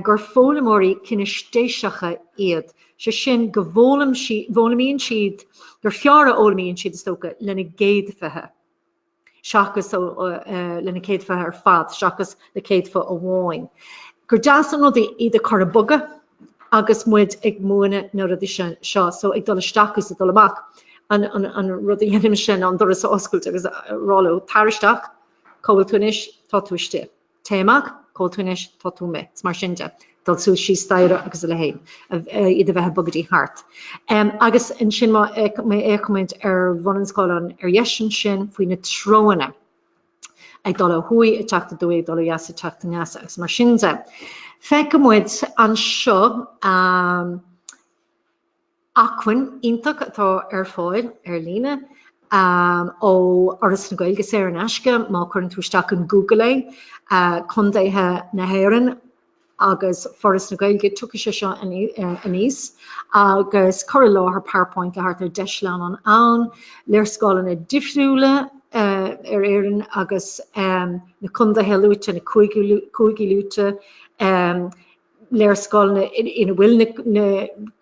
gur foghlaimeoirí cinéistéiseacha iad, sé sin go bhfoghlaim siad, bhfoghlaimíonn siad, gur fearr a fhoghlaimíonn siad, is dócha, lena gcéadfaí. seachas lena gcéadfaí ar fad seachas le céadfa amháin. Gur deas an rud iad a chur ag bogadh agus muid ag múineadh na rudaí sin seo so ag dul isteach is ag dul amach an an rud a dhéanaimse ná an doras a oscailt agus a rá leo, tar isteach, cá bhfuil tú anois, tá tú istigh. téigh amach, cá bhfuil tú anois, tá tú amuigh is mar sin de, dul suas síos staighre agus a leithéid, iad a bheith ag bogadh thart. Agus ansin má fhéachaimid ar bhun an scáileáin ar dheis ansin faoi na treoanna, ag dul ó thuaidh, ag teacht aduaidh, ag dul ó dheas, ag teacht aneas agus mar sin de. Feicimid anseo, Acmhainn iontach atá ar fáil ar líne ó Fhoras na Gaeilge, saor in aisce má chuireann tú isteach in Google é. Contaetha na hÉireann agus Foras na Gaeilge, tiocfaidh sé seo aníos, agus cur i láthair Powerpoint le thart ar 10 sleamhnán ann, léarscáileanna difriúla ar Éirinn agus na contaetha luaite, na cúigí luaite, léarscáileanna ina bhfuil na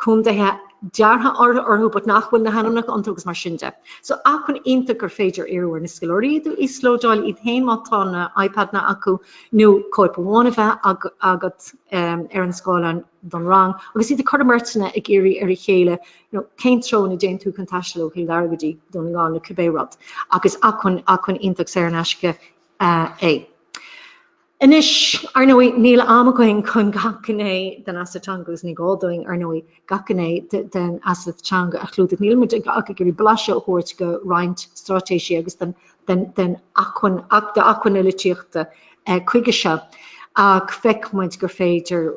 contaetha deartha orthu but nach bhfuil na hainmneacha iontu agus mar sin de. So acmhainn iontach gur féidir iarraidh ar na scoláirí iad a íoslódáil iad féin má tá na iPadna acu nó cóip amháin a bheith agat ar an scáileán don rang agus iad a chur i mbeirteanna ag iarraidh ar a chéile you know cén treo ina dtéann tú chun taisteal ó Chill Dara go dtí Dún na nGall nó cibé rud. Agus acmhainn acmhainn iontach saor in aisce é. Anois, ar ndóigh, níl am againn chun gach gné den fheasacht teanga agus ní gá dúinn, ar ndóigh, gach gné den fheasacht teanga a chlúdach. Nílimid ach ag iarraidh blaiseadh a thabhairt de roinnt straitéisí agus den acmhainn, d'acmhainn na litríochta chuige seo ach feicfimid gur féidir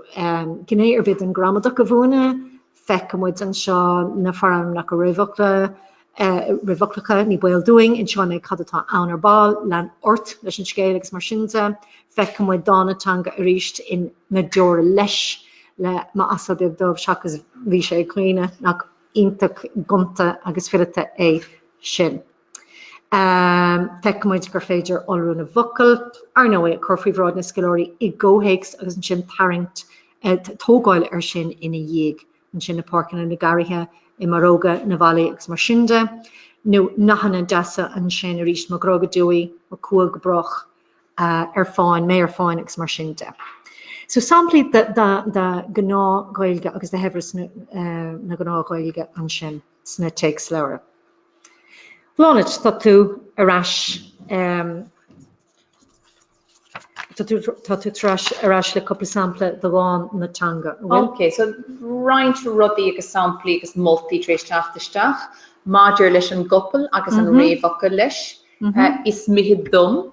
gné ar bith den ghramadach a mhúineadh, Feicimid anseo na forainmneacha réamhfhoclacha, ní baol dúinn, inseoidh mé cad atá ann ar ball, lean ort leis an scéal agus mar sin de. Feicimid dán na teanga arís in Na deora leis le m'asal beag dubh seachas Bhí sé ag caoineadh. Nach iontach gonta agus fileata é sin. Feicimid gur féidir iolrú na bhfocal, ar ndóigh, a chur faoi bhráid na scoláirí i gcomhthéacs agus ansin tarraingt, tógáil air sin ina dhiaidh. Ansin na páirceanna, na garraithe, i mbarróga na bhfallaí agus mar sin de. Nó nathanna deasa ansin arís, mo ghrá go deo í, mo chumha go brách, ar fán, mé ar fán agus mar sin de. So samplaí de ghnáth-Ghaeilge agus de shaibhreas na gnáth-Ghaeilge ansin. sna téacsleabhair. Bláthnaid, tá tú ar ais ehm, tá tú, tá tú tar ais, ar ais le cúpla sampla de dhán na teanga, an bhfuil? Ok, so roinnt rudaí agus samplaí agus moltaí tar éis teacht isteach maidir leis an gcopail agus an réamhfhocal leis, Is mithid dom.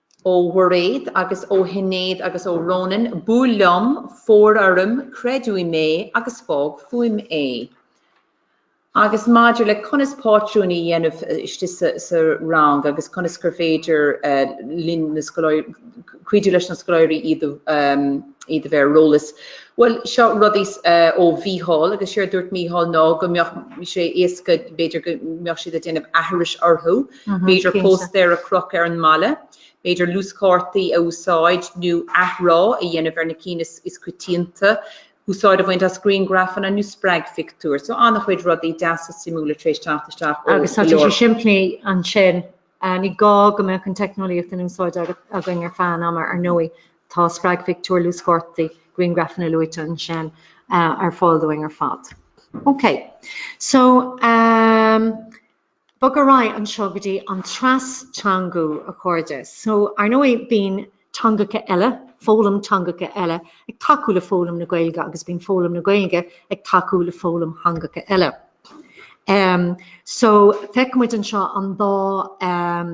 Ó Mhairéad agus ó Shinéad agus ó Rónán, buail liom, fóir orm, creid uaim é agus fág fúm é. Agus maidir le conas pátrúin a dhéanamh istigh sa rang agus conas gur féidir linn na scoláirí, cuidiú leis na scoláirí iad a bheith ar eolas, bhuel, seo rud deas ó Mhícheál agus séard dúirt Mícheál ná go mbeadh sé éasca, b'fhéidir go mbeadh siad ag déanamh aithris orthu. B'fhéidir póstaeir a chrochadh ar an mballa, b'fhéidir luaschártaí a úsáid nó athrá a dhéanamh ar na cinn is coitianta, úsáid a bhaint as griangrafanna nó spreagphictiúir. So an-chuid rudaí deasa suimiúla tar éis teacht isteach. Agus tá sé simplí ansin, ní gá go mbeadh an teicneolaíocht in úsáid againn i bhfad an ama ar ndóigh. Tá spreagphictiúir, luaschártaí, griangrafanna luaite ansin ar fáil dúinn ar fad. Okay. So, um, Bog ar aghaidh anseo go dtí an tras-teangú, a chairde. So, ar ndóigh, bíonn teangacha eile, foghlaim teangacha eile, ag tacú le foghlaim na Gaeilge agus bíonn foghlaim na Gaeilge ag tacú le foghlaim theangacha eile. Em, so, feicfidh muid anseo an dá, em,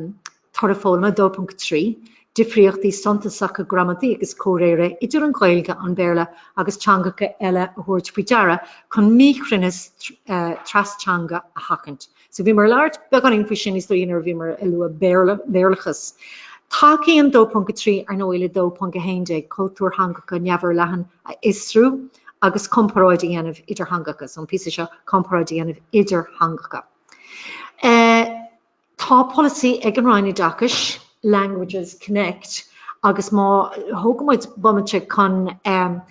Toradh Foghlama 2.3, Difríochtaí suntasacha gramadaí agus comhréire idir an Ghaeilge, an Béarla agus teangacha eile a thabhairt faoi deara chun míchruinneas tras-teanga a sheachaint. So bhíomar ag labhairt beagáinín faoi sin is dóigh nuair a bhíomar ag lua Béarlachas. Tacaíonn 2.3 ar ndóigh le 2.11, cultúr theangacha neamhfhorleathan a fhiosrú agus comparáid a dhéanamh idir theangacha. So an píosa seo, comparáid a dhéanamh idir theangacha. Tá polasaí ag an Roinn Oideachais, Languages Connect, agus má thógaimid bomaite chun an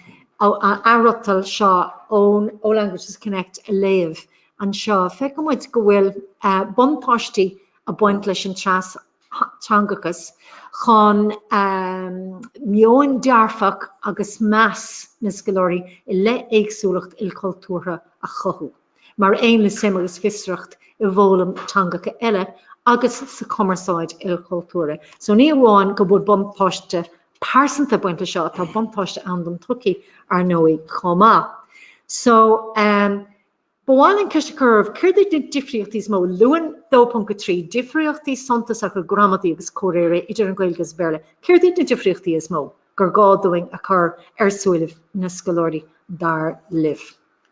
athfhriotal seo ó Languages Connect a léamh anseo, feicimid go bhfuil buntáistí ag baint leis an tras-teangachas chun meoin dearfach agus meas na scoláirí i leith éagsúlacht ilchultúrtha a chothú. mar aon le suim agus fiosracht i bhfoghlaim teangacha eile agus sa chumarsáid ilchultúrtha. So ní amháin go bhfuil buntáiste pearsanta ag baint leis seo, tá buntáiste ann don tsochaí, ar ndóigh, chomh maith. So um, Ba mhaith linn ceist a chur céard iad na difríochtaí is mó luann 2.3 difríochtaí suntasacha gramadaí agus comhréire idir an Ghaeilge agus Béarla. Céard iad na difríochtaí is mó gur gá dúinn a chur ar a súile na scoláirí dar libh?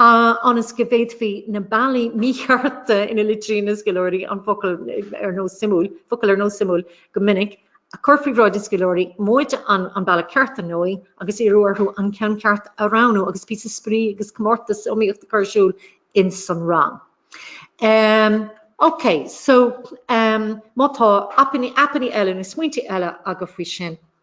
ionas go bhféadfaí na bealaí míchearta ina litríonn na scoláirí an focal ar nós 'suimiúil', focal ar nós 'suimiúil' go minic, a chur faoi bhráid na scoláirí, móide an an bealach ceart, ar ndóigh, agus iarradh orthu an ceann ceart a roghnú agus píosa spraoi agus comórtas iomaíocht a chur ar siúl ins an rang. Um. OK, so, um, má tá aipeanna, aipeannaí eile nó smaointe eile agaibh faoi sin,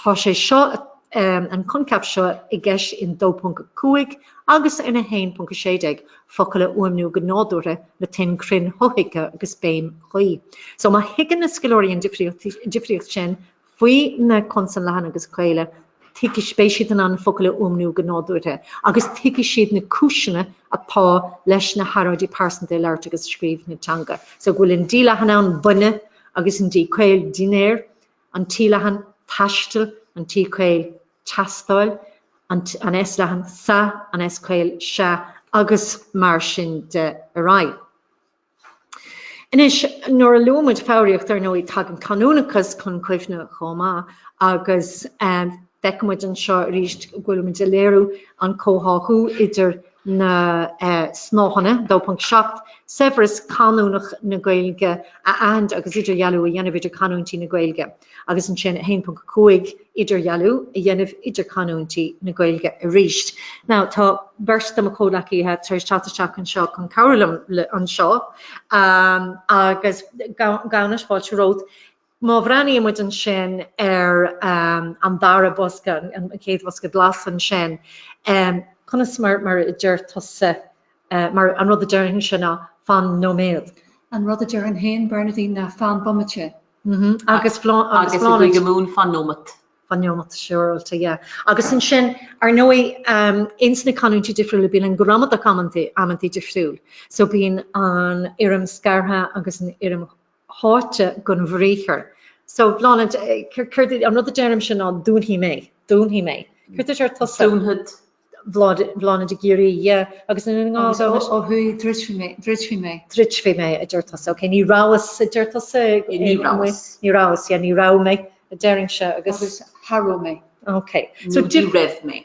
Tá sé seo, an coincheap seo, i gceist in 2.5 agus in 1.16, focail a fhuaimniú go nádúrtha le tuin chruinn shothuigthe agus béim chuí. So má thuigeann na scoláirí an difríocht sin faoi na consain leathana agus caola, tuigfidh, beidh siad in ann focail a fhuaimniú go nádúrtha agus tuigfidh siad na cúiseanna atá leis na hearráidí pearsanta i labhairt agus scríobh na teanga. So go bhfuil an D leathan ann, duine, agus an D caol, dinnéar, an T-leathan, taisteal, an T-caol, teastáil, an S-leathan, sa, an S-caol, sea, agus mar sin de ar aghaidh. Anois, nuair a luaigh muid foghraíocht, ar ndóigh, tagann canúnachas chun cuimhne chomh maith agus feicfidh muid anseo arís go bhfuilimid ag léiriú an chomhtháthú idir. na snáitheanna, 2.7 Saibhreas canúnach na Gaeilge a aithint agus idirdhealú a dhéanamh idir canúintí na Gaeilge agus ansin 1.5 Idirdhealú a dhéanamh idir canúintí na Gaeilge arís. Now tá beirt de mo chomhleacaithe tar éis teacht isteach anseo chun cabhrú liom anseo agus gan fhios fáilte romhat Má bhreathnaímid ansin ar an dara bosca, an chéad bhosca glas ansin, conas mar a deir tusa, mar an rud a déarfainnse ná fan nóiméad. An rud a déarfainn féin, Bernadine, ná fan bomaite. Agus Bláthnaid. Agus i gCúige Mumhan, fan nóimeat. Fan nóimeat, siúráilte, yeah. Agus ansin, ar ndóigh, ins na canúintí difriúla bíonn an ghramadach amantaí difriúil. So bíonn an fhoirm scartha agus an fhoirm tháite den bhriathar. So Bláthnaid, céard é an rud a deirimse ná dúnfaidh mé, dúnfaidh mé. Céard a deir tusa? Dúnfad. Bláthnaid ag giorrú, yeah, agus ansin ó thuaidh? Ó thuaidh, druidfidh mé, druidfidh mé. druidfidh mé, a deir tusa. Ok, ní rabhas, a deir tusa. Ní rabhas. Ní rabhas, yeah, ní raibh mé, a deirimse, agus. Agus cha raibh mé. Ok. Nó ní raibh mé.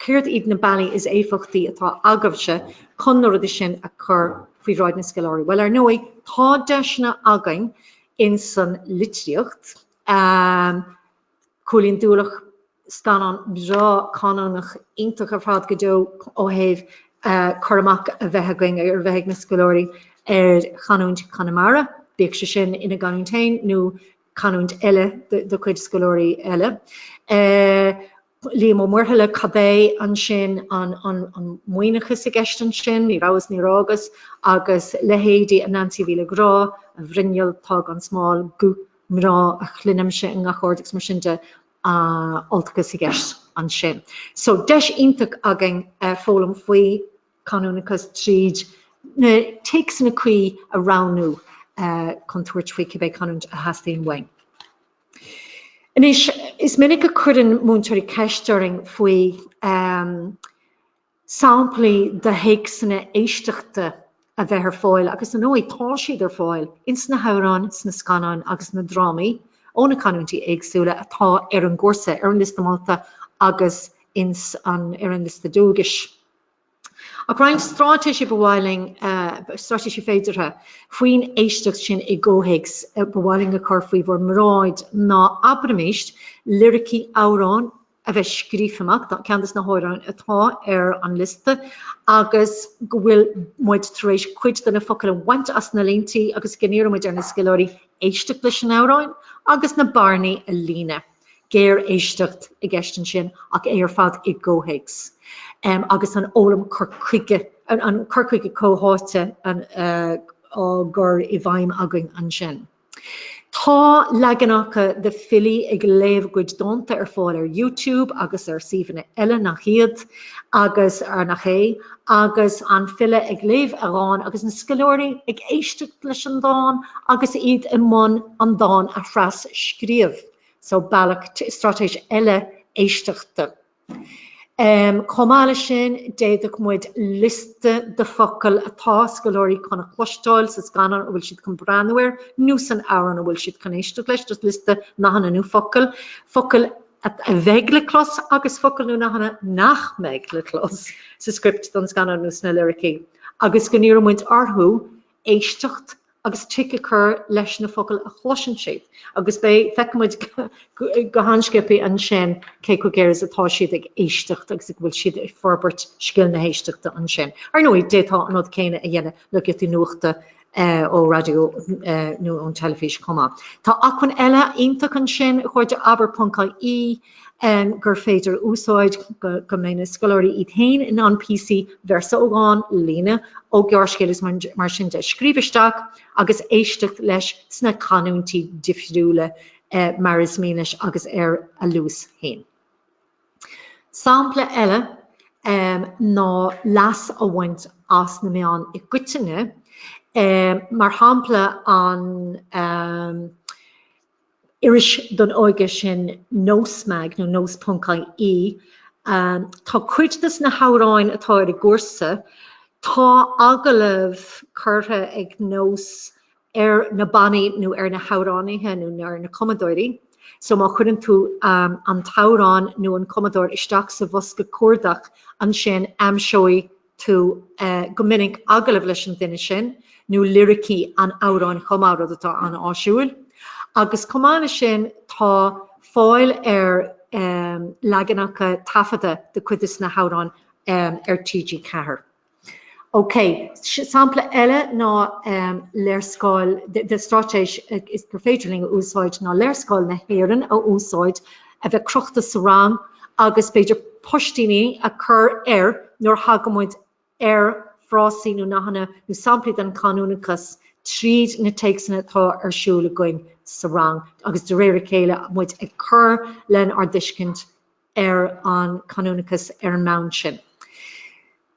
Céard iad na bealaí is éifeachtaí atá agaibhse chun na rudaí sin a chur faoi bhráid na scoláirí? Bhuel, ar ndóigh, tá deiseanna againn in san litríocht. Cúilín Dualach, scannán breá canúnach iontach ar fad go deo ó thaobh cur amach a bheith againn, a bheith ag na scoláirí ar chanúint Chonamara, bíodh sé sin ina gcanúint féin nó canúint eile de chuid scoláirí eile. Liam Ó Muirthile, Caidé ansin an Muimhneachas i gceist ansin? Ní rabhas, ní raghas, agus leithéidí a Nancy Mhíle Ghrá, a bhruinneall atá gan smál, guth mná a chluinimse i ngach aird agus mar sin de, Ultachas i gceist ansin. So deis iontach againn foghlaim faoi chanúnachas tríd na téacsanna cuí a roghnú chun tabhairt faoi cibé canúint a theastaíonn uainn. Anois, is minic a chuireann múinteoirí ceist orainn faoi shamplaí de théacsanna éisteachta a bheith ar fáil agus ar ndóigh tá siad ar fáil ins na hamhráin, sna scannáin agus na drámaí ó na canúintí éagsúla atá ar an gcúrsa, ar an liosta molta agus ins an, ar an liosta dualgais. Ach roinnt stráitéisí ba mhaith linn, stráitéisí féideartha, faoin éisteacht sin i gcomhthéacs ba mhaith linn a chur faoi bhur mbráid ná, abraimis, liricí amhráin a bheith scríofa amach, ceann de na hamhráin atá ar an liosta agus go bhfuil muid tar éis cuid de na focail a bhaint as na líntí agus go n-iarrann muid ar na scoláirí éisteacht leis an amhrán agus na bearnaí a líonadh. géaréisteacht i gceist ansin ach é ar fad i gcomhthéacs agus an fhoghlaim cur chuige, an cur chuige comhtháite á chur i bhfeidhm againn ansin. Tá leaganacha de filí ag léamh a gcuid dánta ar fáil ar YouTube agus ar shuíomhanna eile nach iad. agus arnach é, agus an file ag léamh a dháin agus na scoláirí ag éisteacht leis an dán agus iad i mbun an dán a thrascríobh so bealach, straitéis eile éisteachta. Chomh maith leis sin, d'fhéadfadh muid liosta de fhocail atá scoláirí chun a chloisteáil sa scannán a bhfuil siad chun breathnú air nó san amhrán a bhfuil siad chun éisteacht leis, just liosta nathanna nó focail, focail a bheidh le clos agus focail nó nathanna nach mbeidh le clos sa script don scannán nó sna liricí agus go n-iarrann muid orthu éisteacht agus tic a chur leis na focail a chloiseann siad agus beidh, feicfidh muid go han-sciobtha ansin cé chomh géar is atá siad ag éisteacht agus a bhfuil siad ag forbairt scil na héisteachta ansin. Ar ndóigh, d'fhéadfá an rud céanna a dhéanamh le giotaí nuachta, ó raidió nó ón teilifís chomh maith. Tá acmhainn eile iontach ansin, a chairde, abair.ie, gur féidir a úsáid go mbeidh na scoláirí iad féin in ann píosaí, véarsa ó dhán, líne ó ghearrscéal is mar sin de, a scríobh isteach agus éisteacht leis sna canúintí difriúla mar is mian leo agus ar a luas féin. Sampla eile ná leas a bhaint as na meáin i gcoitinne, mar shampla an iris don óige sin Nós Mag nó Nós.ie. Tá cuid de sna hamhráin atá ar an gcúrsa, tá agallamh curtha ag Nós ar na bannaí nó ar na hamhránaithe nó ar na cumadóirí. So má chuireann tú an t-amhrán nó an cumadóir isteach sa bhosca cuardach ansin aimseoidh tú go minic agallamh leis an duine sin nó liricí an amhráin chomh maith, rud atá an-áisiúil. Agus chomh maith leis sin tá fáil ar leaganacha taifeadta de cuid de sna hamhráin ar TG4. OK, sampla eile ná léarscáil de straitéis gur féidir linn a úsáid ná léarscáil na hÉireann a úsáid, a bheith crochta sa rang agus b'fhéidir poist-ití a cur air nuair a thagann muid ar frásaí nó nathanna nó samplaí den chanúnachas tríd na téacsanna atá ar siúl againn sa rang agus de réir a chéile muid ag cur lenár dtuiscint ar an canúnachas ar an mbonn sin.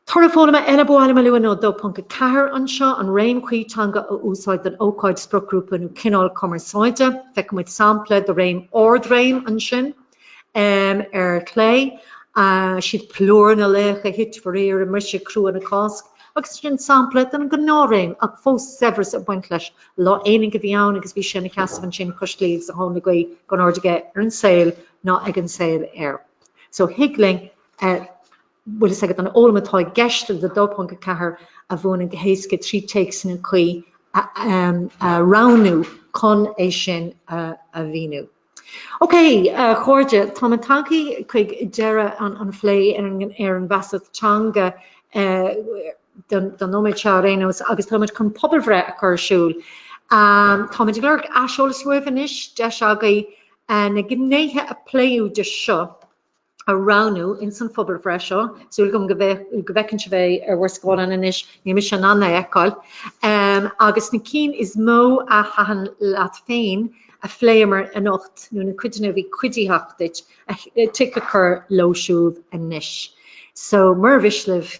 Toradh foghlama eile ba mhaith liom a lua ná 2.4 anseo, an réim chuí teanga a úsáid don ócáid, spriocghrúpa nó cineál cumarsáide. Feiceann muid sampla de réim ardréim ansin, ar chlé, siad plúr na laoch a thit faraor i mbriseadh crua na Cásc, agus ansin sampla den ghnáthréim ach fós saibhreas ag baint leis, Lá aonaigh a bhí ann agus bhí sé ina sheasamh ansin cois claí agus a thóin le gaoith gan aird aige ar an saol, ná ag an saol air. So thig linn bhfuil fhios agat an fhoghlaim atá i gceist le 2.4 a mhúineadh go héasca trí téacsanna cuí a roghnú chun é sin a mhíniú. Ok, a chairde, tá muid tagthaí chuig deireadh an phlé ar an bhfeasacht teanga don nóiméad seo ar aon nós agus táimid chun pobalbhreith a chur ar siúl. Táimid ag lorg aiseolas uaibh anois, deis agaibh Na gnéithe a pléadh go dtí seo a roghnú ins an phobalbhreith seo, súil agam go bhfeiceann sibh é ar bhur scáileán anois, níl mise in ann é a fheiceáil, agus na cinn is mó a thaitin leat féin a phléamar anocht, nó na cuideanna a bhí cuiditheach duit, tic a chur leo siúd anois. So, mura mhiste libh,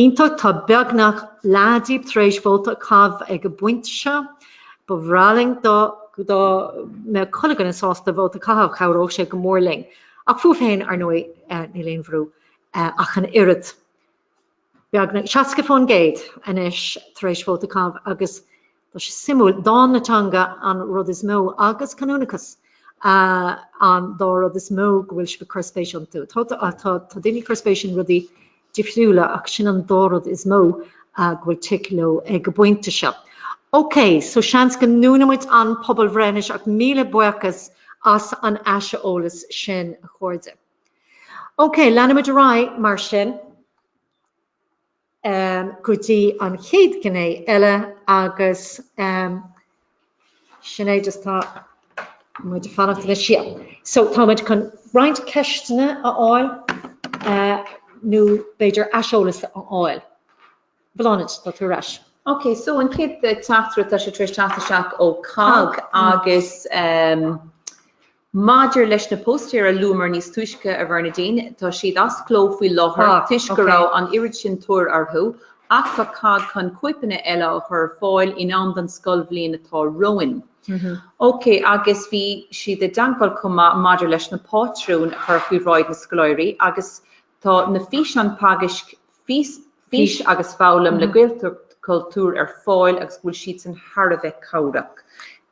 Iontach, tá beagnach leath díbh tar éis vóta a chaitheamh ag an bpointe seo. Ba bhreá linn dá mbeadh chuile dhuine sásta vóta a chaitheamh, chabhródh sé go mór linn. Ach fúibh féin, ar ndóigh, níl aon bhrú ach an oiread. Beagnach 60% anois tar éis vóta a chaitheamh agus Tá sé suimiúil. Dáin na teanga an rud is mó agus canúnachas an dá rud is mó go bhfuil sibh ag cur spéis iontu. Tá daoine ag cur spéis in rudaí difriúla ach sin an dá rud is mó go bhfuil tic leo ag an bpointe seo. Ok, so seans go ndúnann muid an pobalbhreith anois ach míle buíochas as an aiseolas sin a chairde. Ok, leanann muid ar aghaidh mar sin. go dtí an chéad ghné eile agus sin é just tá muid ag fanacht anois yeah so tá muid chun roinnt ceisteanna a fháil nó b'fhéidir aiseolas a fháil. Bláthnaid, tá tú ar ais. Ok, so an chéad teachtaireacht, tá sé tar éis teacht isteach ó COGG agus Maidir leis na póstaeir a luamar níos túisce, a Bhernadine, tá siad as cló faoi láthair toisc go raibh an oiread sin tóir orthu, ach tá COGG chun cóipeanna eile a chur ar fáil in am don scoilbhliain atá romhainn. OK, agus bhí siad i dteangmháil chomh maith maidir leis na pátrúin a chur faoi bhráid na scoláirí agus tá na físeáin teagaisc Fís agus Foghlaim le Gaelchultúr ar fáil agus go bhfuil siadsan thar a bheith cabhrach.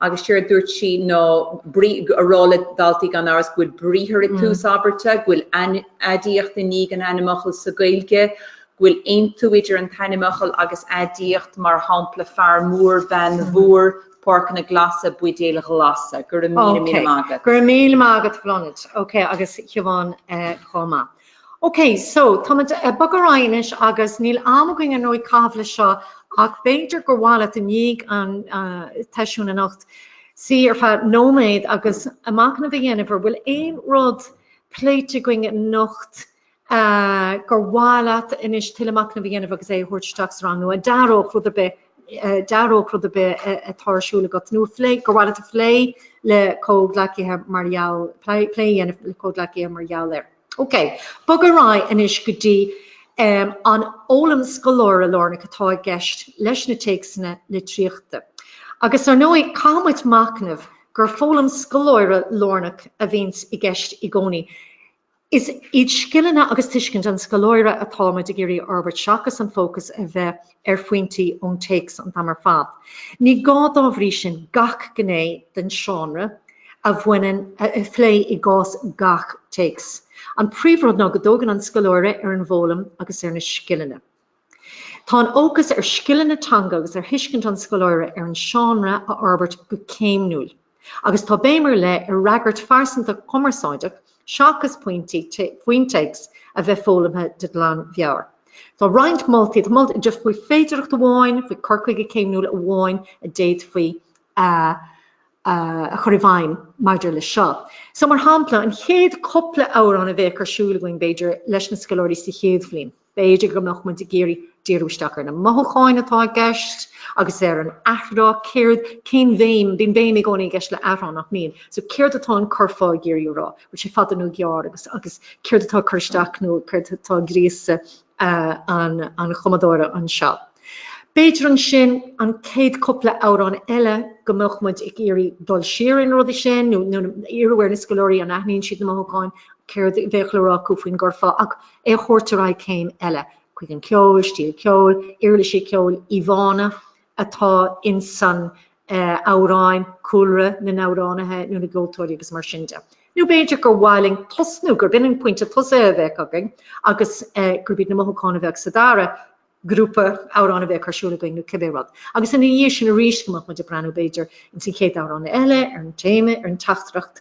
Agus séard a dúirt sí ná a rá le daltaí gan amhras go bhfuil briathar ag tús abairte, go bhfuil aidiacht i ndiaidh an ainmfhocal sa Ghaeilge, go bhfuil aontú idir an t-ainmfhocal agus aidiacht, mar shampla fear mór, bean mhór, páirceanna glasa, buidéil ghlasa. Go raibh míle maith agat. Go raibh míle maith agat a Bhláthnaid. Ok, agus a Shiobhán chomh maith. Ok, so, táimid ag bogadh ar aghaidh anois agus níl am againn ar ndóigh a chaitheamh le seo ach b'fhéidir gur mhaith leat i ndiaidh an tseisiúin anocht suí ar feadh nóiméad agus machnamh a dhéanamh an bhfuil aon rud pléite againn anocht gur mhaith leat anois tuilleadh machnaimh a dhéanamh agus é a thabhairt isteach sa rang nó a d'athródh rud ar bith, d'athródh rud ar bith atá ar siúl agat nó a phlé, gur mhaith leat a phlé le comhghleacaithe mar gheall, plé a dhéanamh le comhghleacaithe mar gheall air. Ok, bogadh ar aghaidh anois go dtí an fhoghlaim scoláire-lárnach atá i gceist leis na téacsanna litríochta. Agus ar ndóigh, caithfidh muid machnamh gur foghlaim scoláire-lárnach a bhíonns i gceist i gcónaí. Is iad scileanna agus tuiscint an scoláire atá muid ag iarraidh a fhorbairt seachas an fócas a bheith ar phointí ón téacs an t-am ar fad. Ní gá dá bhrí sin gach gné den seánra a bhaineann a phlé i gcás gach téacs. An príomhrud ná go dtógann an scoláire ar an bhfoghlaim agus ar na scileanna. Tá an fhócas ar scileanna teanga agus ar thuiscint an scoláire ar an seánra a fhorbairt go céimniúil. Agus tá béim ar leith ar fhreagairt phearsanta chumarsáideach seachas pointí faoin téacs a bheith foghlamtha de ghlan mheabhair. Tá roinnt moltaí faoi féidireacht amháin, faoi cur chuige céimniúil amháin a d'fhéadfaí a chur i bhfeidhm maidir leis seo. So mar shampla, an chéad cúpla amhrán a bheadh ar siúl againn, b'fhéidir, leis na scoláirí sa chéad bhliain. B'fhéidir go mbeadh muid ag iarraidh díriú isteach ar na mothúcháin atá i gceist agus ar an athrá, céard, cén bhéim, bíonn béim i gcónaí i gceist le athrá nach mbíonn? So céard atá an curfá ag iarraidh a rá? Bhfuil sé fada nó gearr agus agus céard atá ag cur isteach nó céard atá ag gríosadh an an chumadóra anseo? B'fhéidir ansin an céad cúpla amhrán eile go mbeadh muid ag iarraidh dul siar ar na rudaí sin nó iarraidh ar na scoláirí an aithníonn siad na mothúcháin, céard bheadh le rá acu faoin gcurfá ach, é a thabhairt ar aghaidh céim eile, chuig an ceol, stíl ceoil, uirlisí ceoil, íomhánna atá ins san amhráin, cúlra na n-amhránaithe nó na gceoltóirí agus mar sin de. Nó b'fhéidir gur mhaith linn tosnú, gurb in an pointe tosaithe a bheadh againn agus gurb iad na mothúcháin a bheadh sa dara grúpa amhrán a bheadh ar siúl againn nó cibé rud. Agus ina dhiaidh sin arís go mbeadh muid ag breathnú b'fhéidir ins na chéad amhráin eile ar an téama, ar an teachtaireacht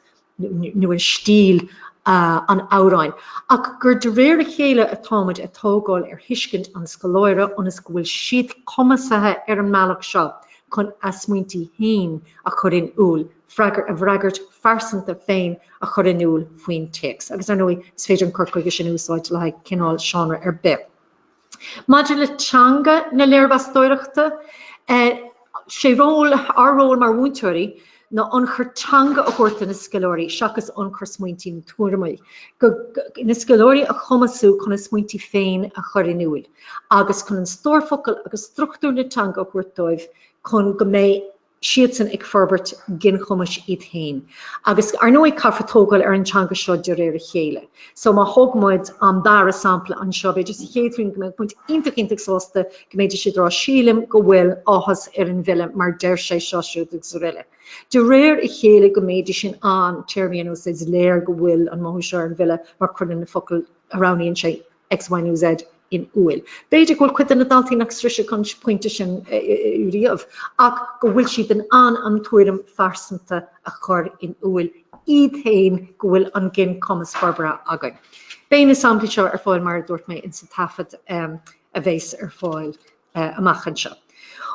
nó an stíl an amhráin. Ach gur de réir a chéile atá muid ag tógáil ar thuiscint an scoláire ionas go bhfuil siad cumasaithe ar an mbealach seo chun a smaointí féin a chur in iúl, a bhfreagairt phearsanta féin a chur in iúl faoin téacs. Agus ar ndóigh is féidir an cur chuige sin a úsáid le haghaidh cineál seánra ar bith. Maidir le teanga na léirmheastóireachta, sé ról, ár ról mar mhúinteoirí, ná ionchur teanga a thabhairt do na scoláirí seachas ionchur smaointí nó tuairimí. Na scoláirí a chumasú chun a smaointí féin a chur in iúl agus chun an stór focal agus struchtúr na teanga a thabhairt dóibh chun go mbeidh siadsan ag forbairt ginchumais iad féin. Agus, ar ndóigh, caithfear tógáil ar an teanga seo de réir a chéile. So, má thóg muid an dara sampla anseo, b'fhéidir sa chéad bhliain go mbeadh muid iontach iontach sásta go mbeadh siad ag rá Sílim go bhfuil áthas ar an bhfile mar deir sé seo, siúd agus araile. De réir a chéile go mbeadh siad in ann téarmaí a úsáid, is léir go bhfuil an mothú seo ar an bhfile mar cuireann na focail a roghnaíonn sé X, Y nó Z in iúl. B'fhéidir go bhfuil cuid de na daltaí nach sroichfidh an pointe sin riamh ach go bhfuil siad in ann an tuairim phearsanta a chur in iúl iad féin go bhfuil an ginchumas forbartha againn. Beidh na samplaí seo ar fáil mar a dúirt mé in sa taifead a bheas ar fáil amach anseo.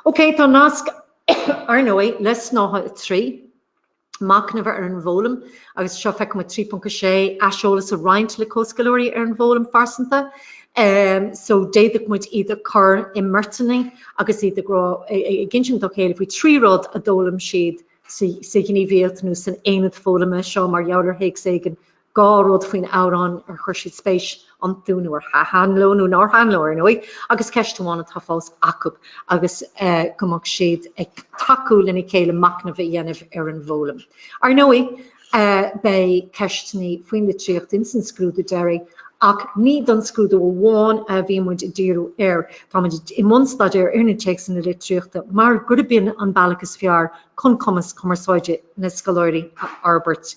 OK, tá nasc, ar ndóigh, le Snáithe 3. Machnamh ar an bhfoghlaim agus seo feiceann muid 3.6 aiseolas a roinnt le comhscoláirí ar an bhfoghlaim phearsanta so d'fhéadfadh muid iad a chur i mbeirteanna agus iad ag rá, ag insint dá chéile faoi trí rud a d'fhoghlaim siad sa ghníomhaíocht nó san aonad foghlama seo mar gheall ar théacs éigin dhá rud faoin amhrán ar chuir siad spéis iontu nó ar thaitin leo nó nár thaitin leo, ar ndóigh, agus ceist amháin atá fós acu agus go mbeadh siad ag tacú lena chéile machnamh a dhéanamh ar an bhfoghlaim. Ar ndóigh, beidh ceisteanna faoin litríocht ins an scrúdú deiridh ach ní don scrúdú amháin a bhíonn muid ag díriú air. Tá muid i mbun staidéir ar na téacsanna litríochta mar gurb in an bealach is fearr chun cumas cumarsáide na scoláirí a fhorbairt.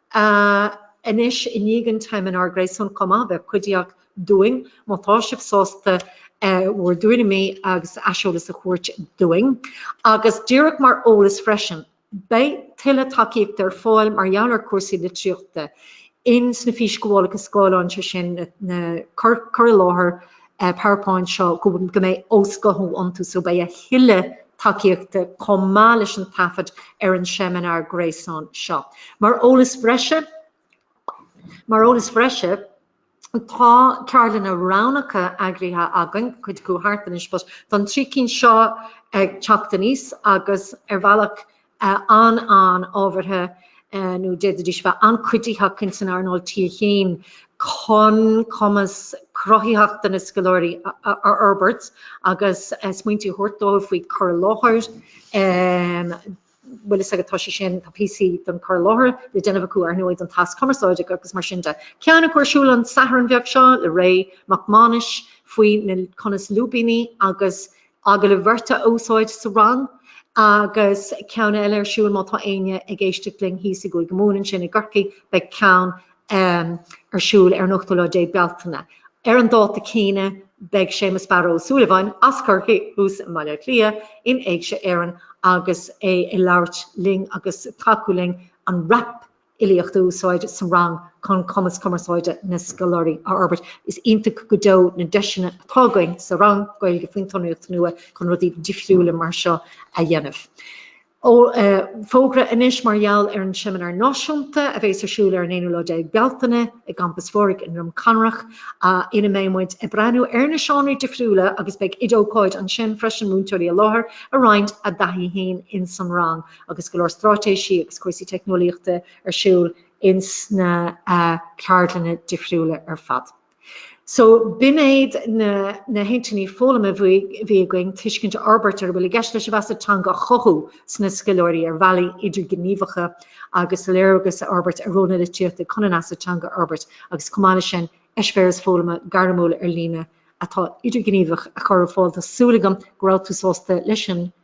a anois, i ndiaidh an tseimineáir gréasáin chomh maith, bheadh cuiditheach dúinn má tá sibh sásta bhur dtuairimí agus aiseolas a thabhairt dúinn. Agus díreach mar eolas freisin, beidh tuilleadh tacaíochta ar fáil mar gheall ar chúrsaí litríochta in sna físghabhálacha scáileáin, sé sin, na cur i láthair PowerPoint seo go mbeidh osghuthú iontu so beidh a thuilleadh tacaíochta chomh maith leis an taifead ar an seimineár gréasáin seo. Mar eolas bhreise, mar eolas breise, tá ceardlanna roghnacha eagraithe againn, cuid acu thart anois, but don trí cinn seo ag teacht aníos agus ar bhealach an-an-ábhartha nó d'fhéadfaidís bheith an-chuiditheach ins an earnáil T1 chun cumas cruthaitheachta na scoláirí a fhorbairt agus smaointí a thabhairt dóibh faoi chur i láthair. Bhfuil fhios agat, tá sé sin, tá píosaí don chur i láthair le déanamh acu ar ndóigh don tasc cumarsáide agus mar sin de. Ceann acu ar siúl an Satharn bheag seo le Ray Mac Mánais faoi na conas lúibíní agus Agallaimh bheirte a úsáid sa rang agus ceann eile ar siúl má tá éinne ag éisteacht linn thíos i gCúige Mumhan, ansin i gCorcaigh beidh ceann ar siúl ar an ochtú lá déag Bealtaine. Ar an dáta céanna beidh Séamus Barra Ó Súilleabháin, as Corcaigh thuas i mBaile Átha Cliath, in Éigse Éireann agus é ag labhairt linn agus ag tacú linn an rap fhilíocht a úsáid sa rang chun cumas cumarsáide na scoláirí a fhorbairt. Is iontach go deo na deiseanna atá againn sa rang Gaeilge faoin tSonraíocht Nua chun rudaí difriúla mar seo a dhéanamh. Fógra anois mar gheall ar an Seimineár Náisiúnta a bhéas ar siúl ar an aonú lá déag Bealtaine i gCampas Phádraig i nDroim Conrach ina mbeidh muid ag breathnú ar na seánraí difriúla agus beidh oid-ócáid ansin freisin, múinteoirí i láthair ag roinnt a dtaithí fhéin insan rang. agus go leor stráitéisí agus cúrsaí teicneolaíochta ar siúl ins na ceardlanna difriúla ar fad. So b'in iad na hintinní foghlama a bhí againn, tuiscint a fhorbairt ar a bhfuil i gceist leis an bhfeasacht teanga a chothú sna scoláirí ar bhealaí idirghníomhacha agus léargas a fhorbairt ar ról na litríochta chun an fheasacht teanga a fhorbairt agus chomh maith leis sin eispéireas foghlama gairmiúil ar líne atá idirghníomhach a chur ar fáil. Tá súil agam go raibh tú sásta leis an